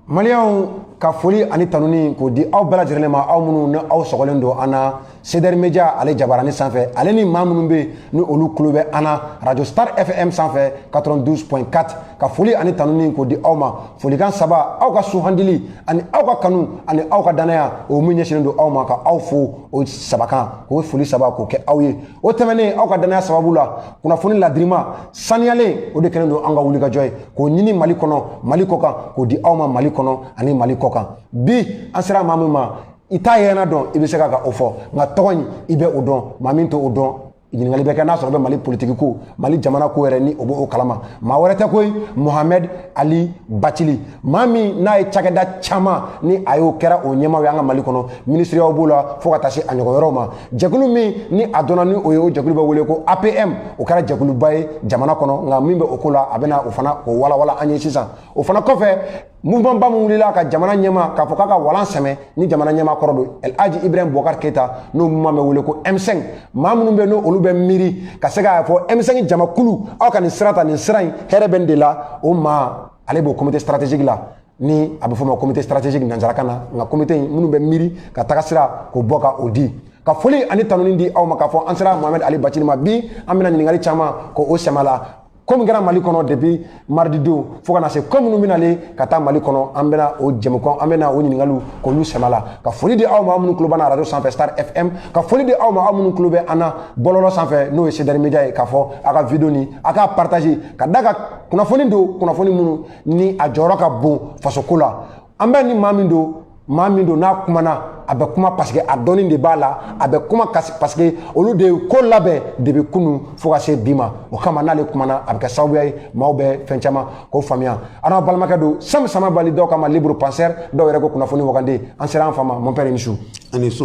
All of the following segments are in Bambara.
Maliens ka foli ani tanuni k'o di aw bɛɛ lajɛlen ma aw minnu ni aw sɔgɔlen don an na CDR Media ale jabarani sanfɛ ale ni maa minnu bɛ yen ni olu tulo bɛ an na Radio Star FM sanfɛ 92.4 ka foli ani tanuni k'o di aw ma folikan saba aw ka suhandili ani aw ka kanu ani aw ka danaya o min ɲɛsinnen don aw ma ka aw fo o saba kan k'o foli saba k'o kɛ aw ye o tɛmɛnen aw ka danaya sababu la kunnafoni ladirima saniyalen o de kɛlen don an ka wulikajɔ ye k'o ɲini mali kɔnɔ mali kɔ kan k'o di aw ma mali kɔnɔ ani mali kɔ kan bi an sera maa min ma i t'a yɛrɛna dɔn i bɛ se ka ka o fɔ nka tɔgɔ in i bɛ o dɔn maa min t'o dɔn ɲininkali bɛ kɛ n'a sɔrɔ bɛ mali politiki ko mali jamana ko yɛrɛ ni o b'o kalama maa wɛrɛ tɛ koyi mohamɛd ali batili maa min n'a ye cakɛda caman ni a y'o kɛra o ɲɛmaaw ye an ka mali kɔnɔ minisiriyaw b'o la fo ka taa se a ɲɔgɔn yɔrɔw ma jɛkulu min ni a dɔnna ni o ye o jɛkulu bɛ wele ko apm o kɛra jɛkuluba ye jamana kɔnɔ nka min bɛ o ko la a bɛna o fana o walawala an ye sisan o fana kɔfɛ mouvement ba min wulila ka jamana ɲɛmaa k'a fɔ k'a ka walan sɛmɛ ni jamana ɲɛmaa kɔrɔ don el haji ibrahim bubakar keyita n'o mouvement bɛ wele ko m5 maa minnu bɛ n'olu bɛ miiri ka se k'a fɔ m5 jamakulu aw ka nin sira ta nin sira in hɛrɛ bɛ nin de la o maa ale b'o comité stratégique la ni a bɛ fɔ o ma comité stratégique nanzarakan na nka comité in minnu bɛ miiri ka taga sira k'o bɔ ka o di ka foli ani tanuni di aw ma k'a fɔ an sera mohamɛd ali batili ma bi an bɛna ɲininkali caman k'o sɛmɛ a la ko min kɛra mali kɔnɔ depuis mardi don fo ka na se ko minnu bɛnale ka taa mali kɔnɔ an bɛna o jɛmukan an bɛna o ɲininkaliw k'olu sɛmɛ a la ka foli di aw ma aw minnu tulo b'an na arajo sanfɛ star fm ka foli di aw ma aw minnu tulo bɛ an na bɔlɔlɔ sanfɛ n'o ye CDR media ye k'a fɔ a ka video ni a k'a partager ka d'a kan kunnafoni don kunnafoni minnu ni a jɔyɔrɔ ka bon fasoko la an bɛ ni maa min don maa min don n'a kumana a bɛ kuma paseke a dɔnni de b'a la a bɛ kuma paseke olu de ye ko labɛn depuis kunu fo ka se bi ma o kama n'ale kumana a bɛ kɛ sababuya ye maaw bɛ fɛn caman k'o faamuya aw n'aw balimakɛ don sam samabali dɔw k'a ma libre penseur dɔw yɛrɛ ko kunnafoni wagande an sera an fa ma mon père i ni su a ni su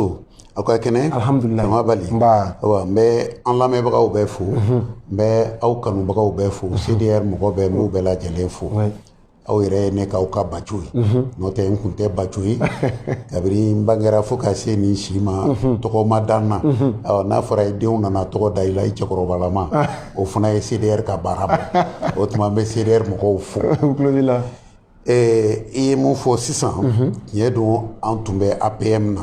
aw ka kɛnɛ alihamudulila samabali n bɛ an lamɛnbagaw bɛɛ fo n bɛ aw kanubagaw bɛɛ fo CDR mɔgɔ bɛɛ n b'u bɛɛ lajɛlen fo aw yɛrɛ ye ne k'aw ka baco ye n'o tɛ n kun tɛ baco ye kabini n bangera fo ka se nin si ma tɔgɔ ma da n na n'a fɔra i denw nana tɔgɔ da i la i cɛkɔrɔbalama o fana ye CDR ka baara bɔ o tuma n bɛ CDR mɔgɔw fo Ɛɛ i ye mun fɔ sisan tiɲɛ don an tun bɛ apm na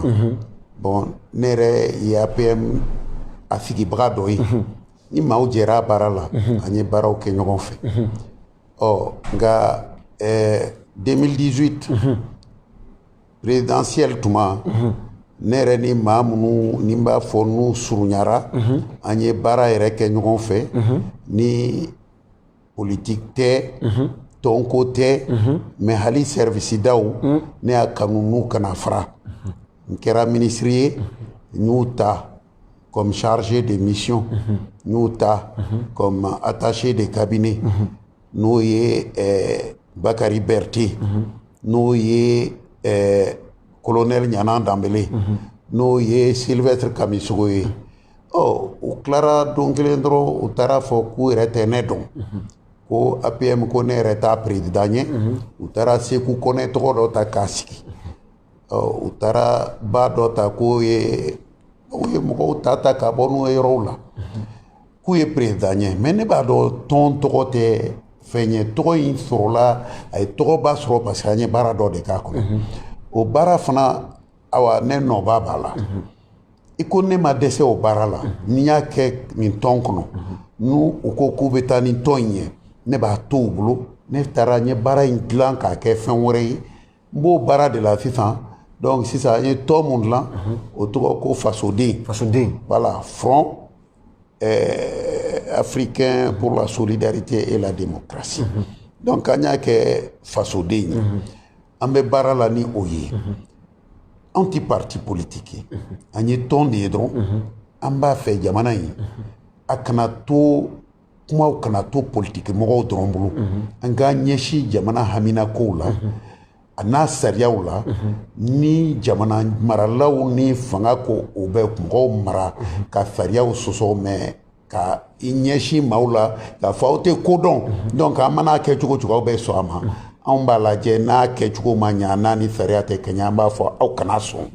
bon ne yɛrɛ ye apm a sigibaga dɔ ye ni maaw jɛra baara la an ye baaraw kɛ ɲɔgɔn fɛ ɔ nka ɛɛ 2018 présidentielle tuma ne yɛrɛ ni maa minnu ni n b'a fɔ n'u surunyara an ye baara yɛrɛ kɛ ɲɔgɔn fɛ ni politigi tɛ tɔnko tɛ mɛ hali sɛriwisidaw ne y'a kanu n'u kana fara n kɛra minisiri ye n y'u ta comme chargé de mission n y'u ta comme attaché de cabinet n'o ye eh, bakari berete n'o ye eh, colonel ɲanan danbele n'o ye sylvestre kamisogo ye ɔ u tilara don kelen dɔrɔn u taar'a fɔ k'u yɛrɛ tɛ ne dɔn ko apm ko ne yɛrɛ t'a perezidan ye u taara seku kɔnɛ tɔgɔ dɔ ta k'a sigi ɔ u taara ba dɔ ta k'o ye u ye mɔgɔw ta ta ka bɔ n'u ye yɔrɔw la k'u ye perezidan ye mɛ ne b'a dɔn tɔn tɔgɔ tɛ fɛn ye tɔgɔ in sɔrɔla a ye tɔgɔba sɔrɔ parce que an ye baara dɔ de k'a kɔnɔ o baara fana awa ne nɔba b'a la i ko ne ma dɛsɛ o baara la n y'a kɛ nin tɔn kɔnɔ n'u ko k'u bɛ taa ni tɔn in ye ne b'a to u bolo ne taara n ye baara in dilan k'a kɛ fɛn wɛrɛ ye n b'o baara de la sisan donc sisan an ye tɔn mun dilan o tɔgɔ ko fasoden fasoden voilà front euh, africain pour la solidarité et la démocratie donc an y'a kɛ fasoden ye an bɛ baara la ni o ye anw tɛ pati politigi an ye tɔn de ye dɔrɔn an b'a fɛ jamana in a kana to kumaw kana to politigi mɔgɔw dɔrɔn bolo an k'an ɲɛsin jamana haminakow la an'a sariyaw la ni jamana maralaw ni fanga ko o bɛ mɔgɔw mara ka sariyaw sɔsɔ mɛ ka i ɲɛsin maaw la k'a fɔ aw tɛ ko dɔn donc an man'a kɛ cogo cogo aw bɛ sɔn a ma anw b'a lajɛ n'a kɛcogo ma ɲa n'a ni sariya tɛ kɛɲɛ an b'a fɔ aw kana sɔn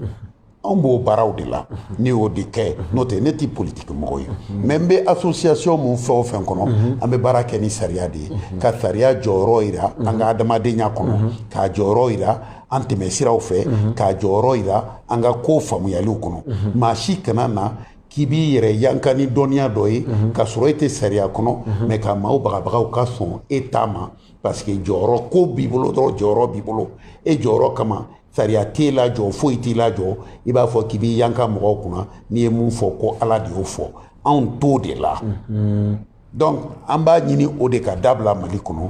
anw b'o baaraw de la ne y'o de kɛ n'o tɛ ne tɛ politiki mɔgɔ ye mɛ n bɛ association mun fɛn o fɛn kɔnɔ an bɛ baara kɛ ni sariya de ye ka sariya jɔyɔrɔ jira an ka adamadenya kɔnɔ k'a jɔyɔrɔ jira an tɛmɛsiraw fɛ k'a jɔyɔrɔ jira an ka ko faamuyaliw kɔnɔ maa si kana na k'i b'i yɛrɛ yanka ni dɔnniya dɔ ye k'a sɔrɔ e tɛ sariya kɔnɔ mɛ ka maaw bagabaga u ka sɔn e ta ma parce que jɔyɔrɔ ko b'i bolo dɔrɔn jɔyɔrɔ b'i bolo e jɔyɔrɔ kama sariya t'e lajɔ foyi t'i lajɔ i b'a fɔ k'i b'i yanka mɔgɔw kunna n'i ye mun fɔ ko ala de y'o fɔ anw t'o de la donc an b'a ɲini o de ka dabila mali kɔnɔ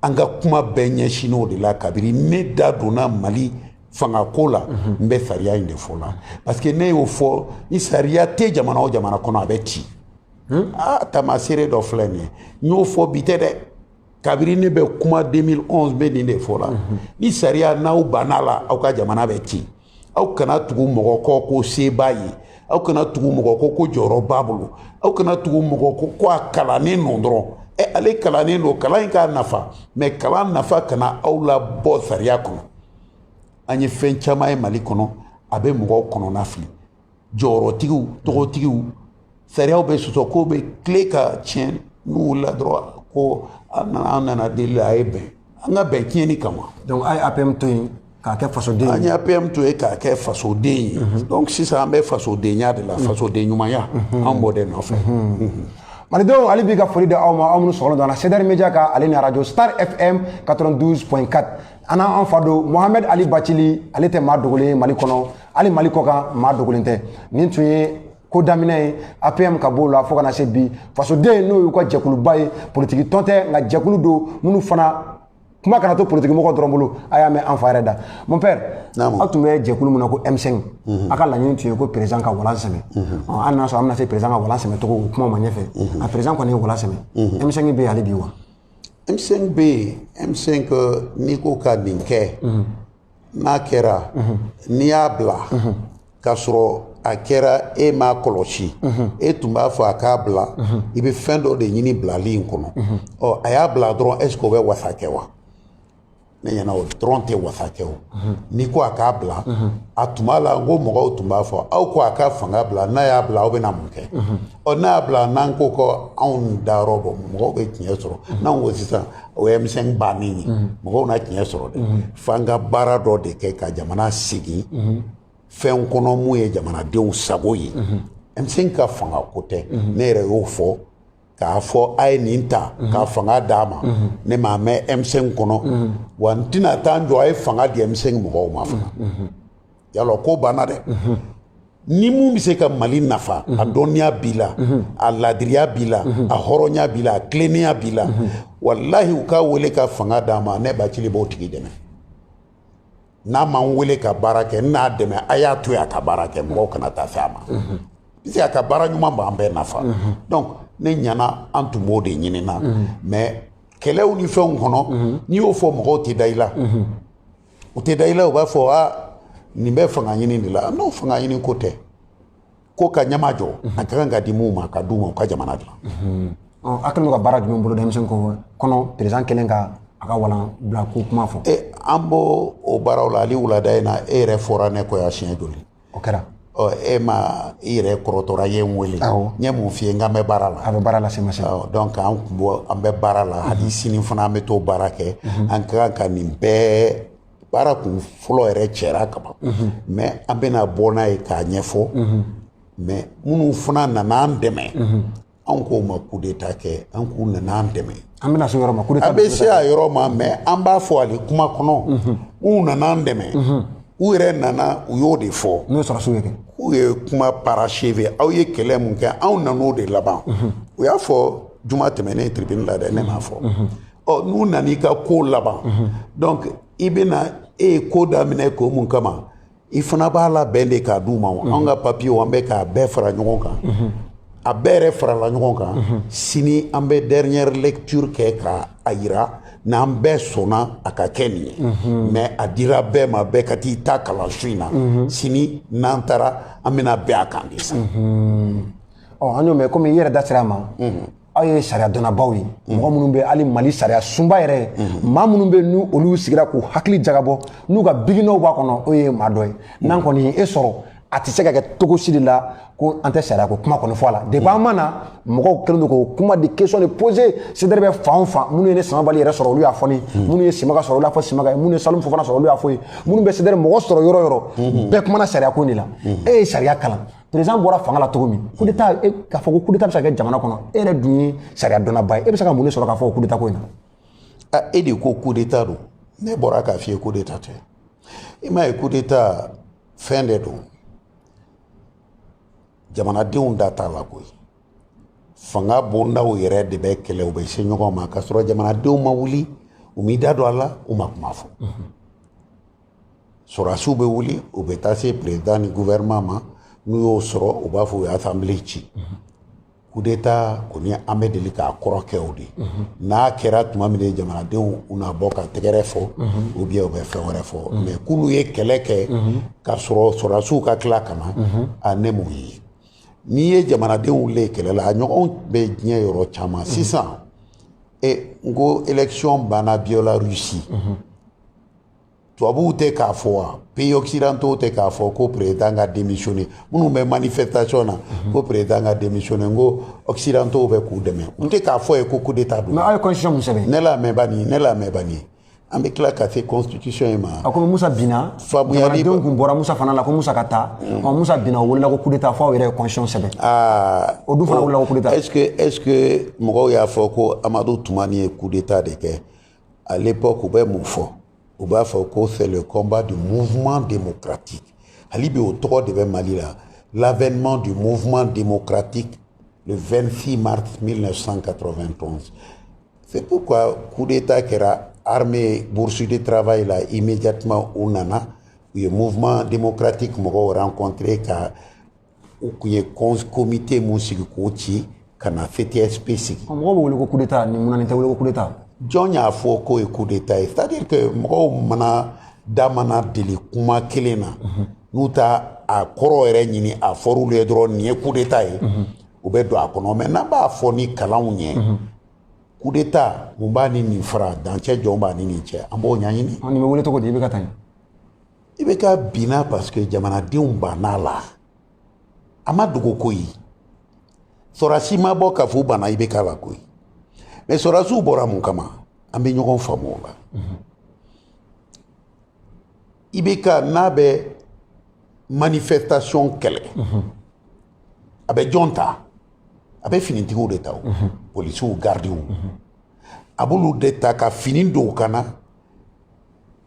an ka kuma bɛɛ ɲɛsinnen o de la kabiri ne da donna mali fanga ko la n bɛ sariya in de fɔ la parce que ne y'o fɔ ni sariya tɛ jamana o jamana kɔnɔ a bɛ ci aa tamaseere dɔ filɛ nin ye n y'o fɔ bi tɛ dɛ kabiri ne bɛ kuma 2011 bɛ nin de fɔ la ni sariya n'aw banna la aw ka jamana bɛ ci aw kana tugu mɔgɔ kɔ ko se b'a ye aw kana tugu mɔgɔ kɔ ko jɔyɔrɔ b'a bolo aw kana tugu mɔgɔ kɔ ko a kalannen don dɔrɔn ɛ ale kalannen don kalan in k'a nafa mais kalan nafa kana aw labɔ sariya kɔnɔ an ye fɛn caman ye mali kɔnɔ a bɛ mɔgɔw kɔnɔna fili jɔyɔrɔtigiw tɔgɔtigiw sariyaw bɛ sɔsɔ kow bɛ tila ka tiɲɛ n'u wulila dɔrɔn ko an nana an nana deli a ye bɛn an ka bɛn tiɲɛni kama donc a ye apm to yen k'a kɛ fasoden an ye apm to yen k'a kɛ fasoden ye mhm. donc sisan an bɛ fasodenya de la mhm. fasoden ɲumanya mhm. an b'o de nɔfɛ malidenw hali bi ka foli di aw ma aw minnu sɔgɔlen don an na cdr media kan ale ni arajo star fm 92.4 an n'an fa don mohamɛd ali bacili ale tɛ maa dogolen ye mali kɔnɔ hali mali kɔ kan maa dogolen tɛ nin tun ye ko daminɛ ye apm ka b'o la fo kana se bi fasoden n'o y'u ka jɛkuluba ye politiki tɔn tɛ nka jɛkulu don minnu fana kuma kana to politiki mɔgɔ dɔrɔn bolo a y'a mɛn an fa yɛrɛ da mon père aw tun bɛ jɛkulu min na ko m5 a ka laɲini tun ye ko président ka walan sɛmɛ hali n'a sɔrɔ an bɛna se président ka walan sɛmɛ cogo o kuma ma ɲɛfɛ a président kɔni ye walan sɛmɛ m5 bɛ yen hali bi wa m5 bɛ yen m5 n'i ko ka nin kɛ n'a kɛra n'i y'a bila k'a sɔrɔ a kɛra e m'a kɔlɔsi e tun b'a fɔ a k'a bila i bɛ fɛn dɔ de ɲini bilali in kɔnɔ ɔ a y'a bila dɔrɔn est-ce que o bɛ wasa kɛ wa ne ɲɛna o dɔrɔn tɛ wasa kɛ o n'i ko a k'a bila a tuma la n ko mɔgɔw tun b'a fɔ aw ko a ka fanga bila n'a y'a bila aw bɛna mun kɛ ɔ n'a y'a bila n'an ko ko anw dayɔrɔ bɔ mɔgɔw bɛ tiɲɛ sɔrɔ n'anw ko sisan o ye m5 bannen ye mɔgɔw na tiɲɛ sɔrɔ dɛ f'an ka baara dɔ de kɛ ka jamana segin fɛn kɔnɔ min ye jamanadenw sago ye m5 ka fanga ko tɛ ne yɛrɛ y'o fɔ k'a fɔ a ye nin ta mhm. ka fanga d'a ma mhm. ne m'a mɛn m5 kɔnɔ mhm. wa n tɛna taa n jɔ a ye fanga di m5 mɔgɔw ma fana y'a lɔn ko banna dɛ ni min bɛ se ka mali nafa a dɔnniya b'i la a laadiriya b'i la a hɔrɔnya b'i la a tilennenya b'i la walahi u k'a wele ka fanga d'a ma ne bacili b'o tigi dɛmɛ n'a m'an weele ka baara kɛ n'a dɛmɛ a y'a to yen a ka baara kɛ mɔgɔw kana taa fɛ a ma puisque a ka baara ɲuman b'an bɛɛ nafa donc ne ɲana an tun b'o de ɲini na mais kɛlɛw ni fɛnw kɔnɔ n'i y'o fɔ mɔgɔw tɛ da i la u tɛ da i la u b'a fɔ aa nin bɛ fanga ɲini de la n'o fanga ɲini ko tɛ ko ka ɲɛma jɔ a ka kan ka di minnu ma ka d'u ma u ka jamana dilan a kɛlen ka baara jumɛn bolo denmisɛnnin ko kɔnɔ perezidan kelen ka a ka walan bila ko kuma fɔ e an b'o o baaraw la hali wulada in na e yɛrɛ fɔra ne kɔ yan siɲɛ joli o kɛra ɔ e ma i yɛrɛ kɔrɔtɔra ye n wele n ye mun f'i ye n k'an bɛ baara la a bɛ baara la sema sema donc an kun bɔ an bɛ baara la hali sini fana an bɛ t'o baara kɛ an ka kan ka nin bɛɛ baara kun fɔlɔ yɛrɛ cɛra kaban mɛ an bɛna bɔ n'a ye k'a ɲɛfɔ mɛ minnu fana nana an dɛmɛ anw k'u ma kudeta kɛ an k'u nana an dɛmɛ an bɛna se yɔrɔ ma kudeta an bɛ se a yɔrɔ ma mɛ an b'a fɔ ale kuma kɔnɔ u nana an dɛmɛ u yɛrɛ nana u y'o de fɔ n'o ye sɔrɔdasiw ye kɛ k'u ye kuma parachever aw ye kɛlɛ mun kɛ anw nan'o de laban u y'a fɔ juma tɛmɛnen tribune la dɛ ne m'a fɔ ɔ n'u nana i ka ko laban donc i bɛna e ye ko daminɛ ko mun kama i fana b'a labɛn de k'a d'u ma o anw ka papiyew an bɛ k'a bɛɛ fara ɲɔgɔn kan a bɛɛ yɛrɛ farala ɲɔgɔn kan sini an bɛ dernière lecture kɛ k'a yira n'an bɛɛ sɔnna a ka kɛ nin ye mais a dira bɛɛ ma bɛɛ ka t'i ta kalan su in na sini n'an taara an bɛna bɛn a kan de sa ɔ an y'o mɛn komi i yɛrɛ da sera a ma aw ye sariya dɔnnabaw ye mɔgɔ minnu bɛ hali mali sariyasunba yɛrɛ ye maa minnu bɛ n'olu sigira k'u hakili jagabɔ n'u ka bikinɔw b'a kɔnɔ o ye maa dɔ ye n'an kɔni ye e sɔrɔ a tɛ se ka kɛ cogo si de la ko an tɛ sariya ko kuma kɔni fɔ a la depuis an ma na mɔgɔw kɛlen don k'o kuma de question de poser CDR bɛ fan o fan minnu ye ne samabali yɛrɛ sɔrɔ olu y'a fɔ ne ye minnu ye simaga sɔrɔ olu y'a fɔ simaga ye minnu ye salimu fofana sɔrɔ olu y'a f'o ye minnu bɛ CDR mɔgɔ sɔrɔ yɔrɔ o yɔrɔ bɛɛ kumana sariya ko in de la e ye sariya kalan perezidan bɔra fanga la cogo min kudeta e k'a fɔ ko kudeta bɛ se ka kɛ jamana kɔnɔ e yɛrɛ dun ye sariya dɔnnaba ye e bɛ se ka mun de sɔrɔ k'a fɔ kudeta ko in na e de ko kudeta don ne bɔra k'a f'i ye kudeta tɛ i m'a ye kudeta fɛn de don jamanadenw da t'a la koyi fanga bondaw yɛrɛ de bɛ kɛlɛ u bɛ se ɲɔgɔn ma k'a sɔrɔ jamanadenw ma wuli u m'i da don a la u ma kuma fɔ sɔrɔdasiw bɛ wuli u bɛ taa se perezidan ni guvɛrɛnɛman ma n'u y'o sɔrɔ u b'a fɔ u ye asanbile ci kudeta kɔni an bɛ deli k'a kɔrɔ kɛ o de n'a kɛra tuma min na jamanadenw u na bɔ ka tɛgɛrɛ fɔ ou bien u bɛ fɛn wɛrɛ fɔ mɛ k'olu ye kɛlɛ kɛ k'a sɔrɔ sɔrɔdasiw ka tila ka na a ne m'o ye n'i ye jamanadenw wuli kɛlɛ la a ɲɔgɔn bɛ diɲɛ yɔrɔ caman sisan e n ko élection banna biélorussie tubabuw tɛ k'a fɔ wa pays occidentaux tɛ k'a fɔ ko président ka démissionner minnu bɛ manifestation na mhm. ko président ka démissionner n ko occidentaux bɛ k'u dɛmɛ u tɛ k'a fɔ ye ko coup d'état don. mais aw ye constitution min sɛbɛn. ne lamɛn bani ne lamɛn bani an bɛ tila ka se constitution in ma. a ko musa binna. faamuyali jamanadenw tun bɔra musa fana la ko musa ka taa. Mm. ɔ musa binna o welela ko coup d'état fo aw yɛrɛ ye constitution sɛbɛn. aa o dun fana welela ko coup d'état. est ce que est ce que mɔgɔw y'a fɔ ko amadu tumani ye coup d'état de kɛ. à l'époque u bɛ mun fɔ u b'a fɔ ko c'est le combat du mouvement démocratique hali bi o tɔgɔ de bɛ mali la l'avènement du mouvement démocratique le 26 mars 1991 c'est pourquoi coup d'état kɛra armée bourse de travail la immédiatement u nana u ye mouvement démocratique mɔgɔw rencontré ka u kun ye komite mun sigi k'o ci ka na ctsp sigi mɔgɔ bɛ wele ko kudeta ni munna nin tɛ wele ko kudeta jɔn y'a fɔ k'o ye kudeta ye c'est à dire que mɔgɔw mana da mana deli kuma kelen na mhm. n'u t'a kɔrɔ yɛrɛ ɲini a fɔr'olu ye dɔrɔn nin ye kudeta ye mhm. u bɛ don a kɔnɔ mɛ n'an b'a fɔ ni kalanw ɲɛ mhm. kudeta mun b'a ni nin fara dancɛ jɔn b'a ni nin cɛ an b'o ɲɛɲini nin bɛ wele cogo di ibk taa ɲɛ ibk binna paseke jamanadenw bann'a la a ma dogo koyi sɔrɔsi ma bɔ k'a fɔ u banna ibk la koyi mɛ sɔrɔsiw bɔra mun kama an bɛ ɲɔgɔn faamu o la ibk n'a bɛ manifestation kɛlɛ a bɛ jɔn ta a bɛ finitigiw de ta o polisiw gardiw a b'olu de ta ka fini don u kan na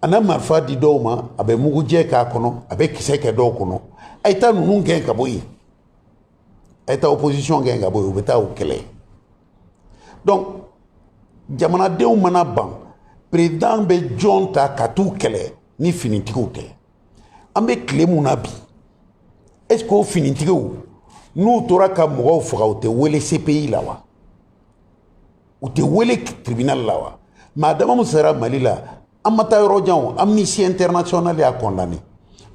a na marifa di dɔw ma a bɛ mugujɛ k'a kɔnɔ a bɛ kisɛ kɛ dɔw kɔnɔ a ye taa ninnu gɛn ka bɔ yen a ye taa opposition gɛn ka bɔ yen u bɛ taa u kɛlɛ donc jamanadenw mana ban perezidan bɛ jɔn ta ka t'u kɛlɛ ni finitigiw tɛ an bɛ tile mun na bi est ce que o finitigiw n'u tora ka mɔgɔw faga u tɛ wele cpi la wa u tɛ wele tribunal la wa maa dama min sara mali la an ma taa yɔrɔ janw amnesty international y'a condamné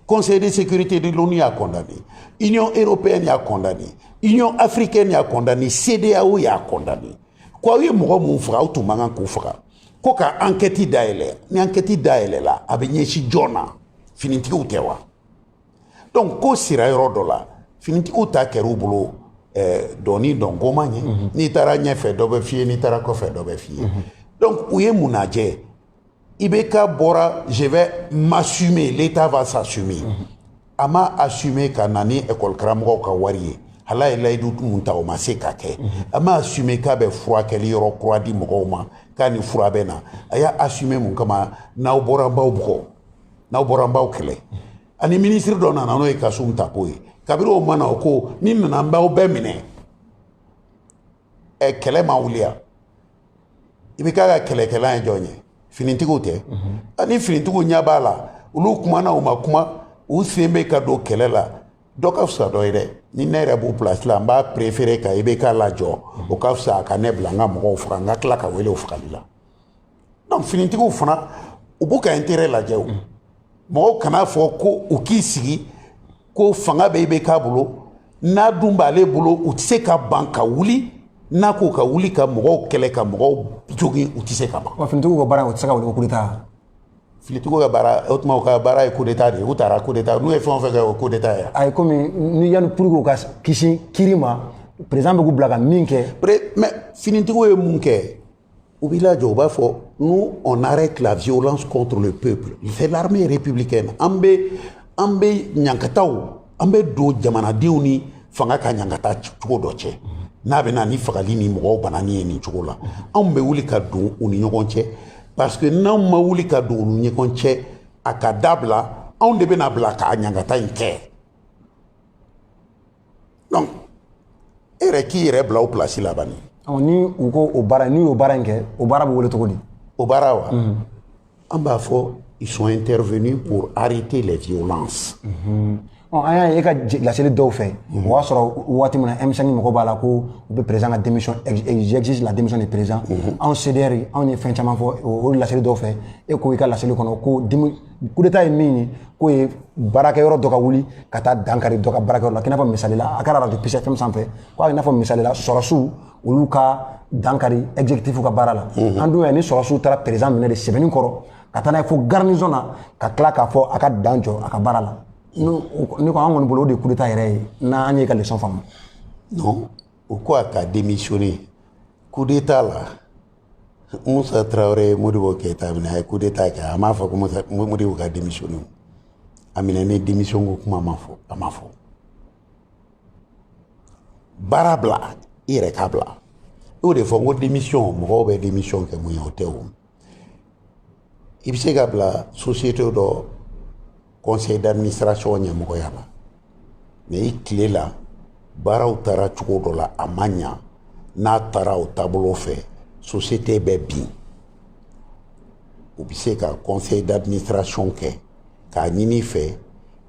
conseil de sécurité de l'onu y'a condamné union européenne y'a condamné union africaine y'a condamné cedeao y'a condamné ko aw ye mɔgɔ minnu faga aw tun man kan k'u faga ko ka ankɛti dayɛlɛ ni ankɛti dayɛlɛla a bɛ ɲɛsin jɔn na finitigiw tɛ wa dɔnku ko sira yɔrɔ dɔ la finitigiw ta kɛra u bolo eh, dɔnin dɔn goman ye mhm. n'i taara ɲɛfɛ dɔ bɛ f'i ye n'i taara kɔfɛ dɔ bɛ f'i ye mhm. dɔnku u ye mun lajɛ IBK bɔra je vais m'assumer l'état va s'assumer mhm. a ma assumer ka na ni école karamɔgɔw ka wari ye hal'a ye layidu mun ta o ma se ka kɛ a ma assumer k'a bɛ furakɛli yɔrɔ kura di mɔgɔw ma k'a ni fura bɛ na a y'a assumer mun kama n'aw bɔra an b'aw bugɔ n'aw bɔra an b'aw kɛlɛ ani minisiri dɔ nana n'o ye kasum tapo ye kabiri o nana o ko ne nana an b'aw bɛɛ minɛ ɛ kɛlɛ ma wuli yan IBK ka kɛlɛkɛla ye jɔn ye finitigiw tɛ ani finitigiw ɲɛ b'a la olu kumana u ma kuma u sen bɛ ka don kɛlɛ la dɔ ka fisa dɔ ye dɛ ni ne yɛrɛ b'u pilasi la n b'a perefere ka IBK lajɔ o ka fisa a ka ne bila n ka mɔgɔw faga n ka tila ka wele o fagali la dɔnku finitigiw fana u b'u ka intérêt lajɛ o mɔgɔw kan'a fɔ ko u k'i sigi ko fanga bɛ IBK bolo n'a dun b'ale bolo u tɛ se ka ban ka wuli n'a ko ka wuli ka mɔgɔw kɛlɛ ka mɔgɔw jogin u tɛ se ka ban. wa finitigiw ka baara o tɛ se ka wele ko coup d'état. finitigiw ka baara o tuma u ka baara ye coup d'état de ye u taara coup d'état n'u ye fɛn o fɛn kɛ o ye coup d'état ye. ayi komi ni yanni pour que u ka kisi kiiri ma président bɛ k'u bila ka min kɛ. mais finitigiw ye mun kɛ. U b'i lajɔ u b'a fɔ nous on arrête la violence contre le peuple c'est l'armée républicaine an bɛ an bɛ ɲankataw an bɛ don jamanadenw ni fanga ka ɲankata cogo dɔ cɛ n'a bɛ na ni fagali ni mɔgɔw banani ye nin cogo la anw bɛ wuli ka don u ni ɲɔgɔn cɛ parce que n'anw ma wuli ka don u ni ɲɔgɔn cɛ a ka dabila anw de bɛna bila ka ɲankata in kɛ donc e yɛrɛ k'i yɛrɛ bila o place la bani ɔ ni u ko o baara n'u y'o baara in kɛ o baara bɛ wele cogo di o baara wa an b'a fɔ ils sont intervenus pour arrêter les violences ɔ an y'a ye e ka je- laseli dɔw fɛ o y'a sɔrɔ waati min na M5 mɔgɔ b'a la ko u bɛ président ka démission ex- ex- j'exige la démission du président anw CDR anw ye fɛn caman fɔ o o laseli dɔw fɛ e ko i ka laseli kɔnɔ ko dimi kudeta ye min ye k'o ye baarakɛyɔrɔ dɔ ka wuli ka taa dankari dɔ ka baarakɛyɔrɔ la k'i n'a fɔ misali la a kɛra arajo Peace FM sanfɛ ko i n'a fɔ misali la sɔrɔsiw olu ka dankari exécutif ka baara la an dun y'a ni sɔrɔsiw taara président minɛ de sɛbɛninkɔrɔ ka taa n'a ye fo garnison na ka tila k'a fɔ a ka dan jɔ a ka baara la ne ko an kɔni bolo o de ye kudeta yɛrɛ ye n'an y'i ka leçon faamu non o ko a ka démissionner kudeta la musa tarawele ye modibo keyita minɛ a ye kudeta kɛ a m'a fɔ ko musa modibo ka démissionner o a minɛni démission ko kuma ma fɔ a ma fɔ baara bila i yɛrɛ k'a bila i y'o de fɔ n ko démission mɔgɔw bɛ démission kɛ mun ye o tɛ o i bɛ se ka bila société dɔ conseil d'administration ɲɛmɔgɔya la mais i tile la baaraw taara cogo dɔ la a ma ɲa n'a taara o taabolo fɛ société bɛ bin u bɛ se ka conseil d'administration kɛ k'a ɲini fɛ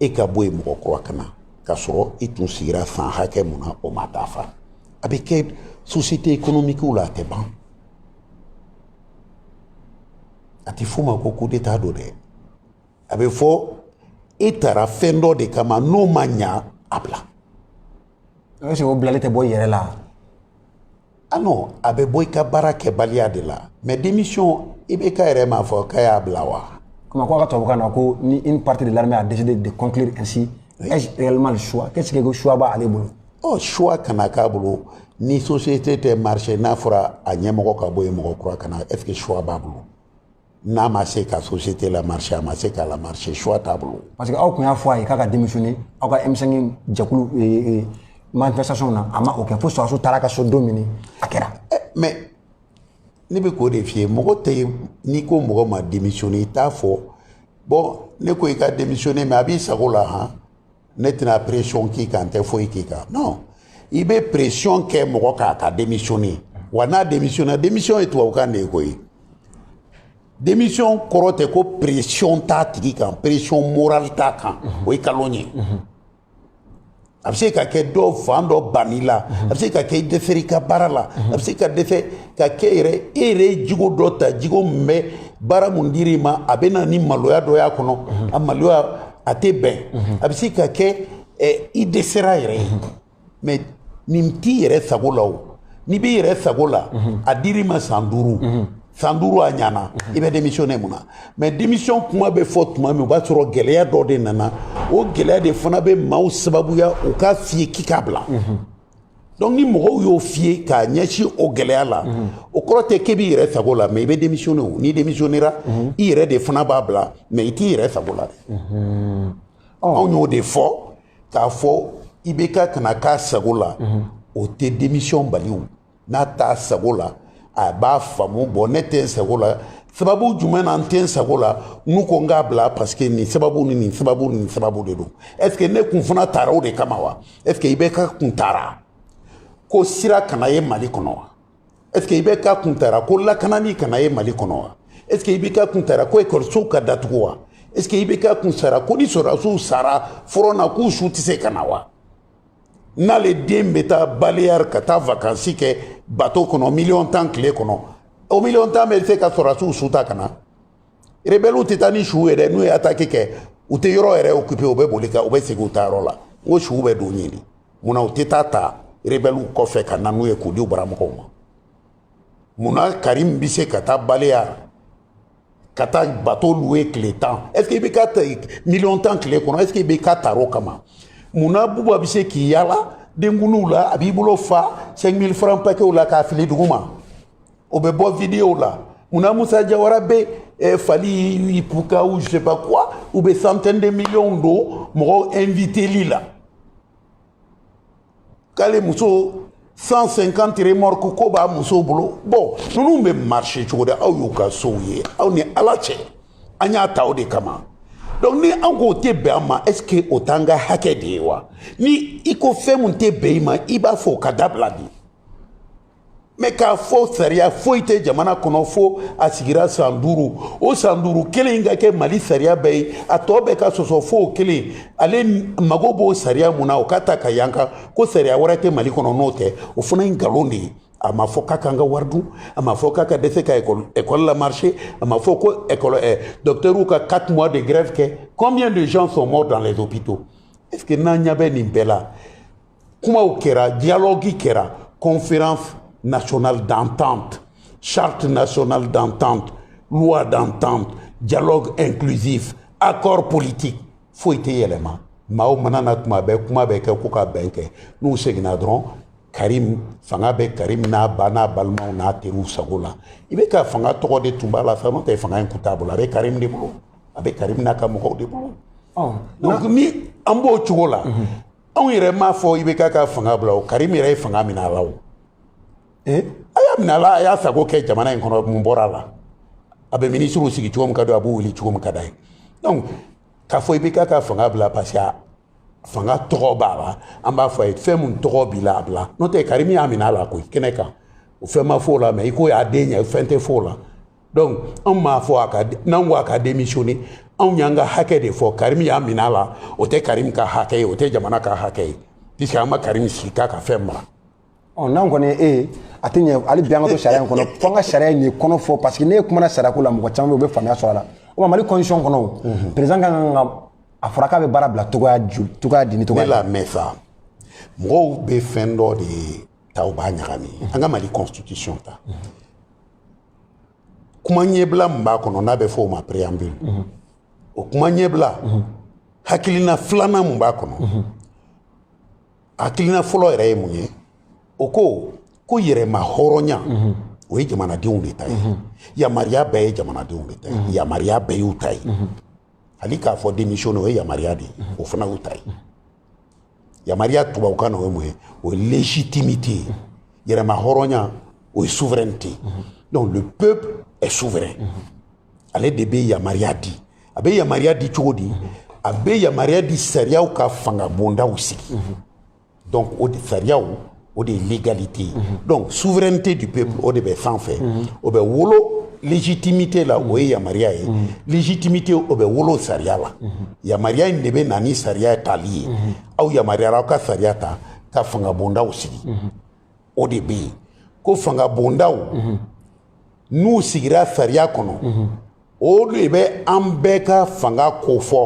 e ka bɔ yen mɔgɔ kura ka na k'a sɔrɔ i tun sigira san hakɛ mun na o ma dafa a bɛ kɛ société économique la a tɛ ban a tɛ f'o ma ko coup d'état don dɛ a bɛ fɔ e tara fɛn dɔ de kama n'o ma ɲa a bila est ce que o bilali tɛ bɔ i yɛrɛ la ah non a bɛ bɔ i ka baara kɛbaliya de la mais démission IBK yɛrɛ m'a fɔ k'a y'a bila wa comme ko a ka tubabukan na ko ni une partie de l'armée a décidé de conclure ainsi ai-je réellement le choix qu'est-ce que ko choix b'ale bolo ɔ choix kana k'a bolo ni société tɛ marcher n'a fɔra a ɲɛmɔgɔ ka bɔ yen mɔgɔ kura ka na est-ce que choix b'a bolo n'a ma se ka société la marcher a ma se k'a la marcher choix t'a bolo. parce que aw tun y'a fɔ a ye k'a ka démissionner aw ka M5 jɛkulu e, e, e, manifestation na a ma o kɛ fo sɔrɔdasiw taara a ka so don min a kɛra. Eh, mais ne bɛ k'o de f'i ye mɔgɔ tɛ n'i ko mɔgɔ ma démissionner i t'a fɔ bon ne ko i ka démissionner mais a b'i sago la han. ne tɛna pression k'i kan n tɛ foyi k'i kan non i bɛ pression kɛ mɔgɔ k'a ka démissionner wa n'a démissionner démission ye tubabukan de ye koyi démission kɔrɔ tɛ ko pression t'a tigi kan pression morale t'a kan o ye kalon ye a bɛ se ka kɛ dɔ fan dɔ banni la a bɛ se ka kɛ i dɛsɛra i ka baara la a bɛ se ka dɛsɛ ka kɛ yɛrɛ e yɛrɛ ye jogo dɔ ta jogo min bɛ baara mun dir'i ma a bɛ na ni maloya dɔ y'a kɔnɔ a maloya a tɛ bɛn a bɛ se ka kɛ i dɛsɛra yɛrɛ ye mais nin t'i yɛrɛ sago la o n'i b'i yɛrɛ sago la a dir'i ma san duuru san duuru a ɲana i bɛ démissionner mun na mais démission kuma bɛ fɔ tuma min o b'a sɔrɔ gɛlɛya dɔ de nana o gɛlɛya de fana bɛ maaw sababuya u k'a f'i ye k'i k'a bila donc ni mɔgɔw y'o f'i ye k'a ɲɛsin o gɛlɛya la o kɔrɔ tɛ k'e b'i yɛrɛ sago la mais i bɛ démissionner o n'i démissionnera i yɛrɛ de fana b'a bila mais i t'i yɛrɛ sago la dɛ anw y'o de fɔ k'a fɔ IBK kana k'a sago la o tɛ démission bali o n'a t'a sago la a b'a faamu bon ne tɛ n sago la sababu jumɛn na n tɛ n sago la n'u ko n k'a bila parce que nin sababu ni nin sababu ni nin sababu de don est ce que ne kun fana tara o de kama wa est ce que IBK kun tara ko sira kana ye mali kɔnɔ wa est ce que IBK kun tara ko lakanani kana ye mali kɔnɔ wa est ce que IBK kun tara ko ekɔlisow ka datugu wa est ce que IBK kun tara ko ni sɔrɔdasiw sara front na k'u su tɛ se ka na wa n'ale den bɛ taa baliyari ka taa vakansi kɛ bato kɔnɔ miliyɔn tan tile kɔnɔ o miliyɔn tan bɛ se ka sɔrɔdasiw su ta ka na rebɛliw tɛ taa ni suw ye dɛ n'u ye ataki kɛ u tɛ yɔrɔ yɛrɛ okipe u bɛ boli ka u bɛ segin u ta yɔrɔ la n ko suw bɛ don ɲini mun na u tɛ taa ta rebɛliw kɔfɛ ka na n'u ye k'u di u baramɔgɔw ma mun na karim bɛ se ka taa baliyari ka taa bato luwe tile tan est ce que ibeka miliyɔn tan tile kɔnɔ est ce que ibeka taro kama mun na buba bɛ se k'i yala denkundiw la a b'i bolo fa 5000 francs paquets la k'a fili duguma o bɛ bɔ video la mun na musa jawara bɛ eh, fally ipupa ou je sais pas quoi u bɛ centaine de millions don mɔgɔw inviteli la k'ale muso 150 remorque ko b'a muso bolo bon ninnu bɛ marché cogo di aw y'u ka sow ye aw ni ala cɛ an y'a ta o de kama donc ni an k'o tɛ bɛn an ma est ce que o t'an ka hakɛ de ye wa ni i ko fɛn min tɛ bɛn i ma i b'a fɔ o ka dabila de mɛ k'a fɔ sariya foyi tɛ jamana kɔnɔ fo a sigira san duuru o san duuru kelen ka kɛ mali sariya bɛɛ ye a tɔ bɛɛ ka sɔsɔ fo o kelen ale mago b'o sariya min na o ka ta ka yan kan ko sariya wɛrɛ tɛ mali kɔnɔ n'o tɛ o fana ye nkalon de ye a ma fɔ k'a k'an ka wari dun a ma fɔ k'a ka dɛsɛ ka ekɔli lamarché a ma fɔ ko ekɔli ɛ dɔkitɛriw ka quatre mois de grève kɛ combien de gens sont morts dans les hôpitaux est ce que n'an ɲɛ bɛ nin bɛɛ la kumaw kɛra dialogue kɛra conférence nationale d'entente charte nationale d'entente loi d'entente dialogue inclusif accord politique foyi tɛ yɛlɛma maaw mana na tuma bɛɛ kuma bɛ kɛ ko ka bɛn kɛ n'u seginna dɔrɔn karim fanga bɛ karim n'a ba n'a balimaw n'a teriw sago la ibeka fanga tɔgɔ de tun b'a la faama tɛ fanga in kun t'a bolo a bɛ karim de bolo a bɛ karim n'a ka mɔgɔw de bolo donc ni an b'o cogo la anw yɛrɛ m'a fɔ ibeka ka fanga bila o karim yɛrɛ ye fanga minɛ a la o a y'a minɛ a la a y'a sago kɛ jamana in kɔnɔ mun bɔra a la a bɛ minisiriw sigi cogo min ka d'a ye a b'u wuli cogo min ka d'a ye donc k'a fɔ ibeka ka fanga bila parce que fanga tɔgɔ b'a la an b'a fɔ a ye fɛn min tɔgɔ b'i la a bila n'o tɛ karim y'a minɛ a la koyi kɛnɛ kan o fɛn ma f'o la mɛ i ko y'a den ye fɛn tɛ f'o la donc anw m'a fɔ a ka n'anw ko a ka démissionner anw y'an ka hakɛ de fɔ karim y'a minɛ a la o tɛ karim ka hakɛ ye o tɛ jamana ka hakɛ ye puisque an ma karim sigi k'a ka fɛn mara ɔ n'an kɔni ye e ye a tɛ ɲɛ hali bi an ka to sariya in kɔnɔ fo an ka sariya in de kɔnɔ fɔ parce que ne kumana sariyako la mɔgɔ caman bɛ yen u bɛ faamuya sɔrɔ a la o ma mali constitution kɔnɔ o président ka kan ka a fɔra k'a bɛ baara bila cogoya ju cogoya di ni cogoya ne lamɛn sa mɔgɔw bɛ fɛn dɔ de ta u b'a ɲagami an ka mali constitution ta kuma ɲɛbila min b'a kɔnɔ n'a bɛ fɔ o ma préambule mhm. o kuma ɲɛbila mhm. hakilina filanan min b'a kɔnɔ mhm. hakilina fɔlɔ yɛrɛ ye mun ye o ko ko yɛrɛma hɔrɔnya o ye jamanadenw de ta ye yamaruya bɛɛ ye jamanadenw de ta ye yamaruya bɛɛ y'u ta ye hali k'a fɔ démission nin o ye yamaruya de ye o fana y'u ta ye yamaruya tubabukan na o ye mun ye o ye légitimité ye yɛrɛma hɔrɔnya o ye souveraineté donc le peuple est souverain ale de bɛ yamaruya di a bɛ yamaruya di cogo di a bɛ yamaruya di sariyaw ka fanga bondaw sigi donc o de sariyaw o de ye légalité ye donc souveraineté du peuple o de bɛ sanfɛ o bɛ wolo légitimité la o ye yamaruya ye légitimité o bɛ wolo sariya la yamaruya in de bɛ na ni sariya tali ye aw yamaruyara aw ka sariya ta ka fangabondaw sigi o de bɛ yen ko fangabondaw n'u sigira sariya kɔnɔ o de bɛ an bɛɛ ka fanga kofɔ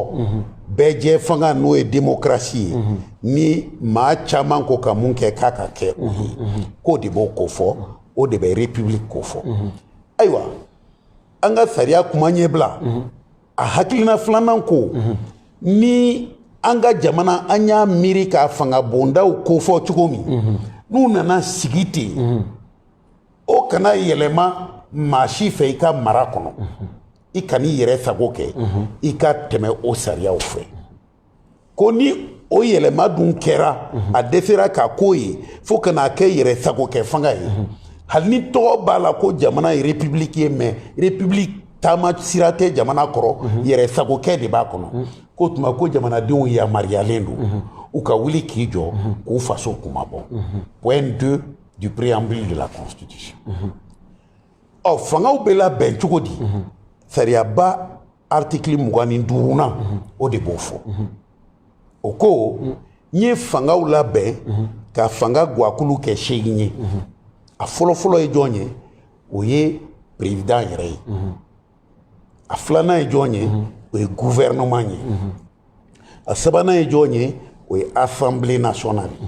bɛɛ jɛ fanga n'o ye démocratie ye ni maa caman ko ka mun kɛ k'a ka kɛ o ye k'o de b'o kofɔ o de bɛ république kofɔ ayiwa an ka sariya kuma ɲɛbila a hakilina filanan ko ni an ka jamana an y'a miiri ka fanga bondaw kofɔ cogo min n'u nana sigi ten o kana yɛlɛma maa si fɛ i ka mara kɔnɔ i kan'i yɛrɛ sago kɛ i ka tɛmɛ o sariyaw fɛ ko ni o yɛlɛma dun kɛra a dɛsɛra ka k'o ye fo ka n'a kɛ yɛrɛ sago kɛ fanga ye hali ni tɔgɔ b'a la ko jamana ye république ye mais république taama sira tɛ jamana kɔrɔ yɛrɛ sagokɛ de b'a kɔnɔ k'o tuma ko jamanadenw yamaruyalen don u ka wuli k'i jɔ k'u faso kunmabɔ point deux du préambule de la constitution ɔ fangaw bɛ labɛn cogo di sariyaba article mugan ni duurunan o de b'o fɔ o ko n ye fangaw labɛn ka fanga gwakulu kɛ seegin ye a fɔlɔfɔlɔ ye jɔn ye o ye président yɛrɛ ye a filanan ye jɔn ye o ye gouvernement ye a sabanan ye jɔn ye o ye assemblée nationale ye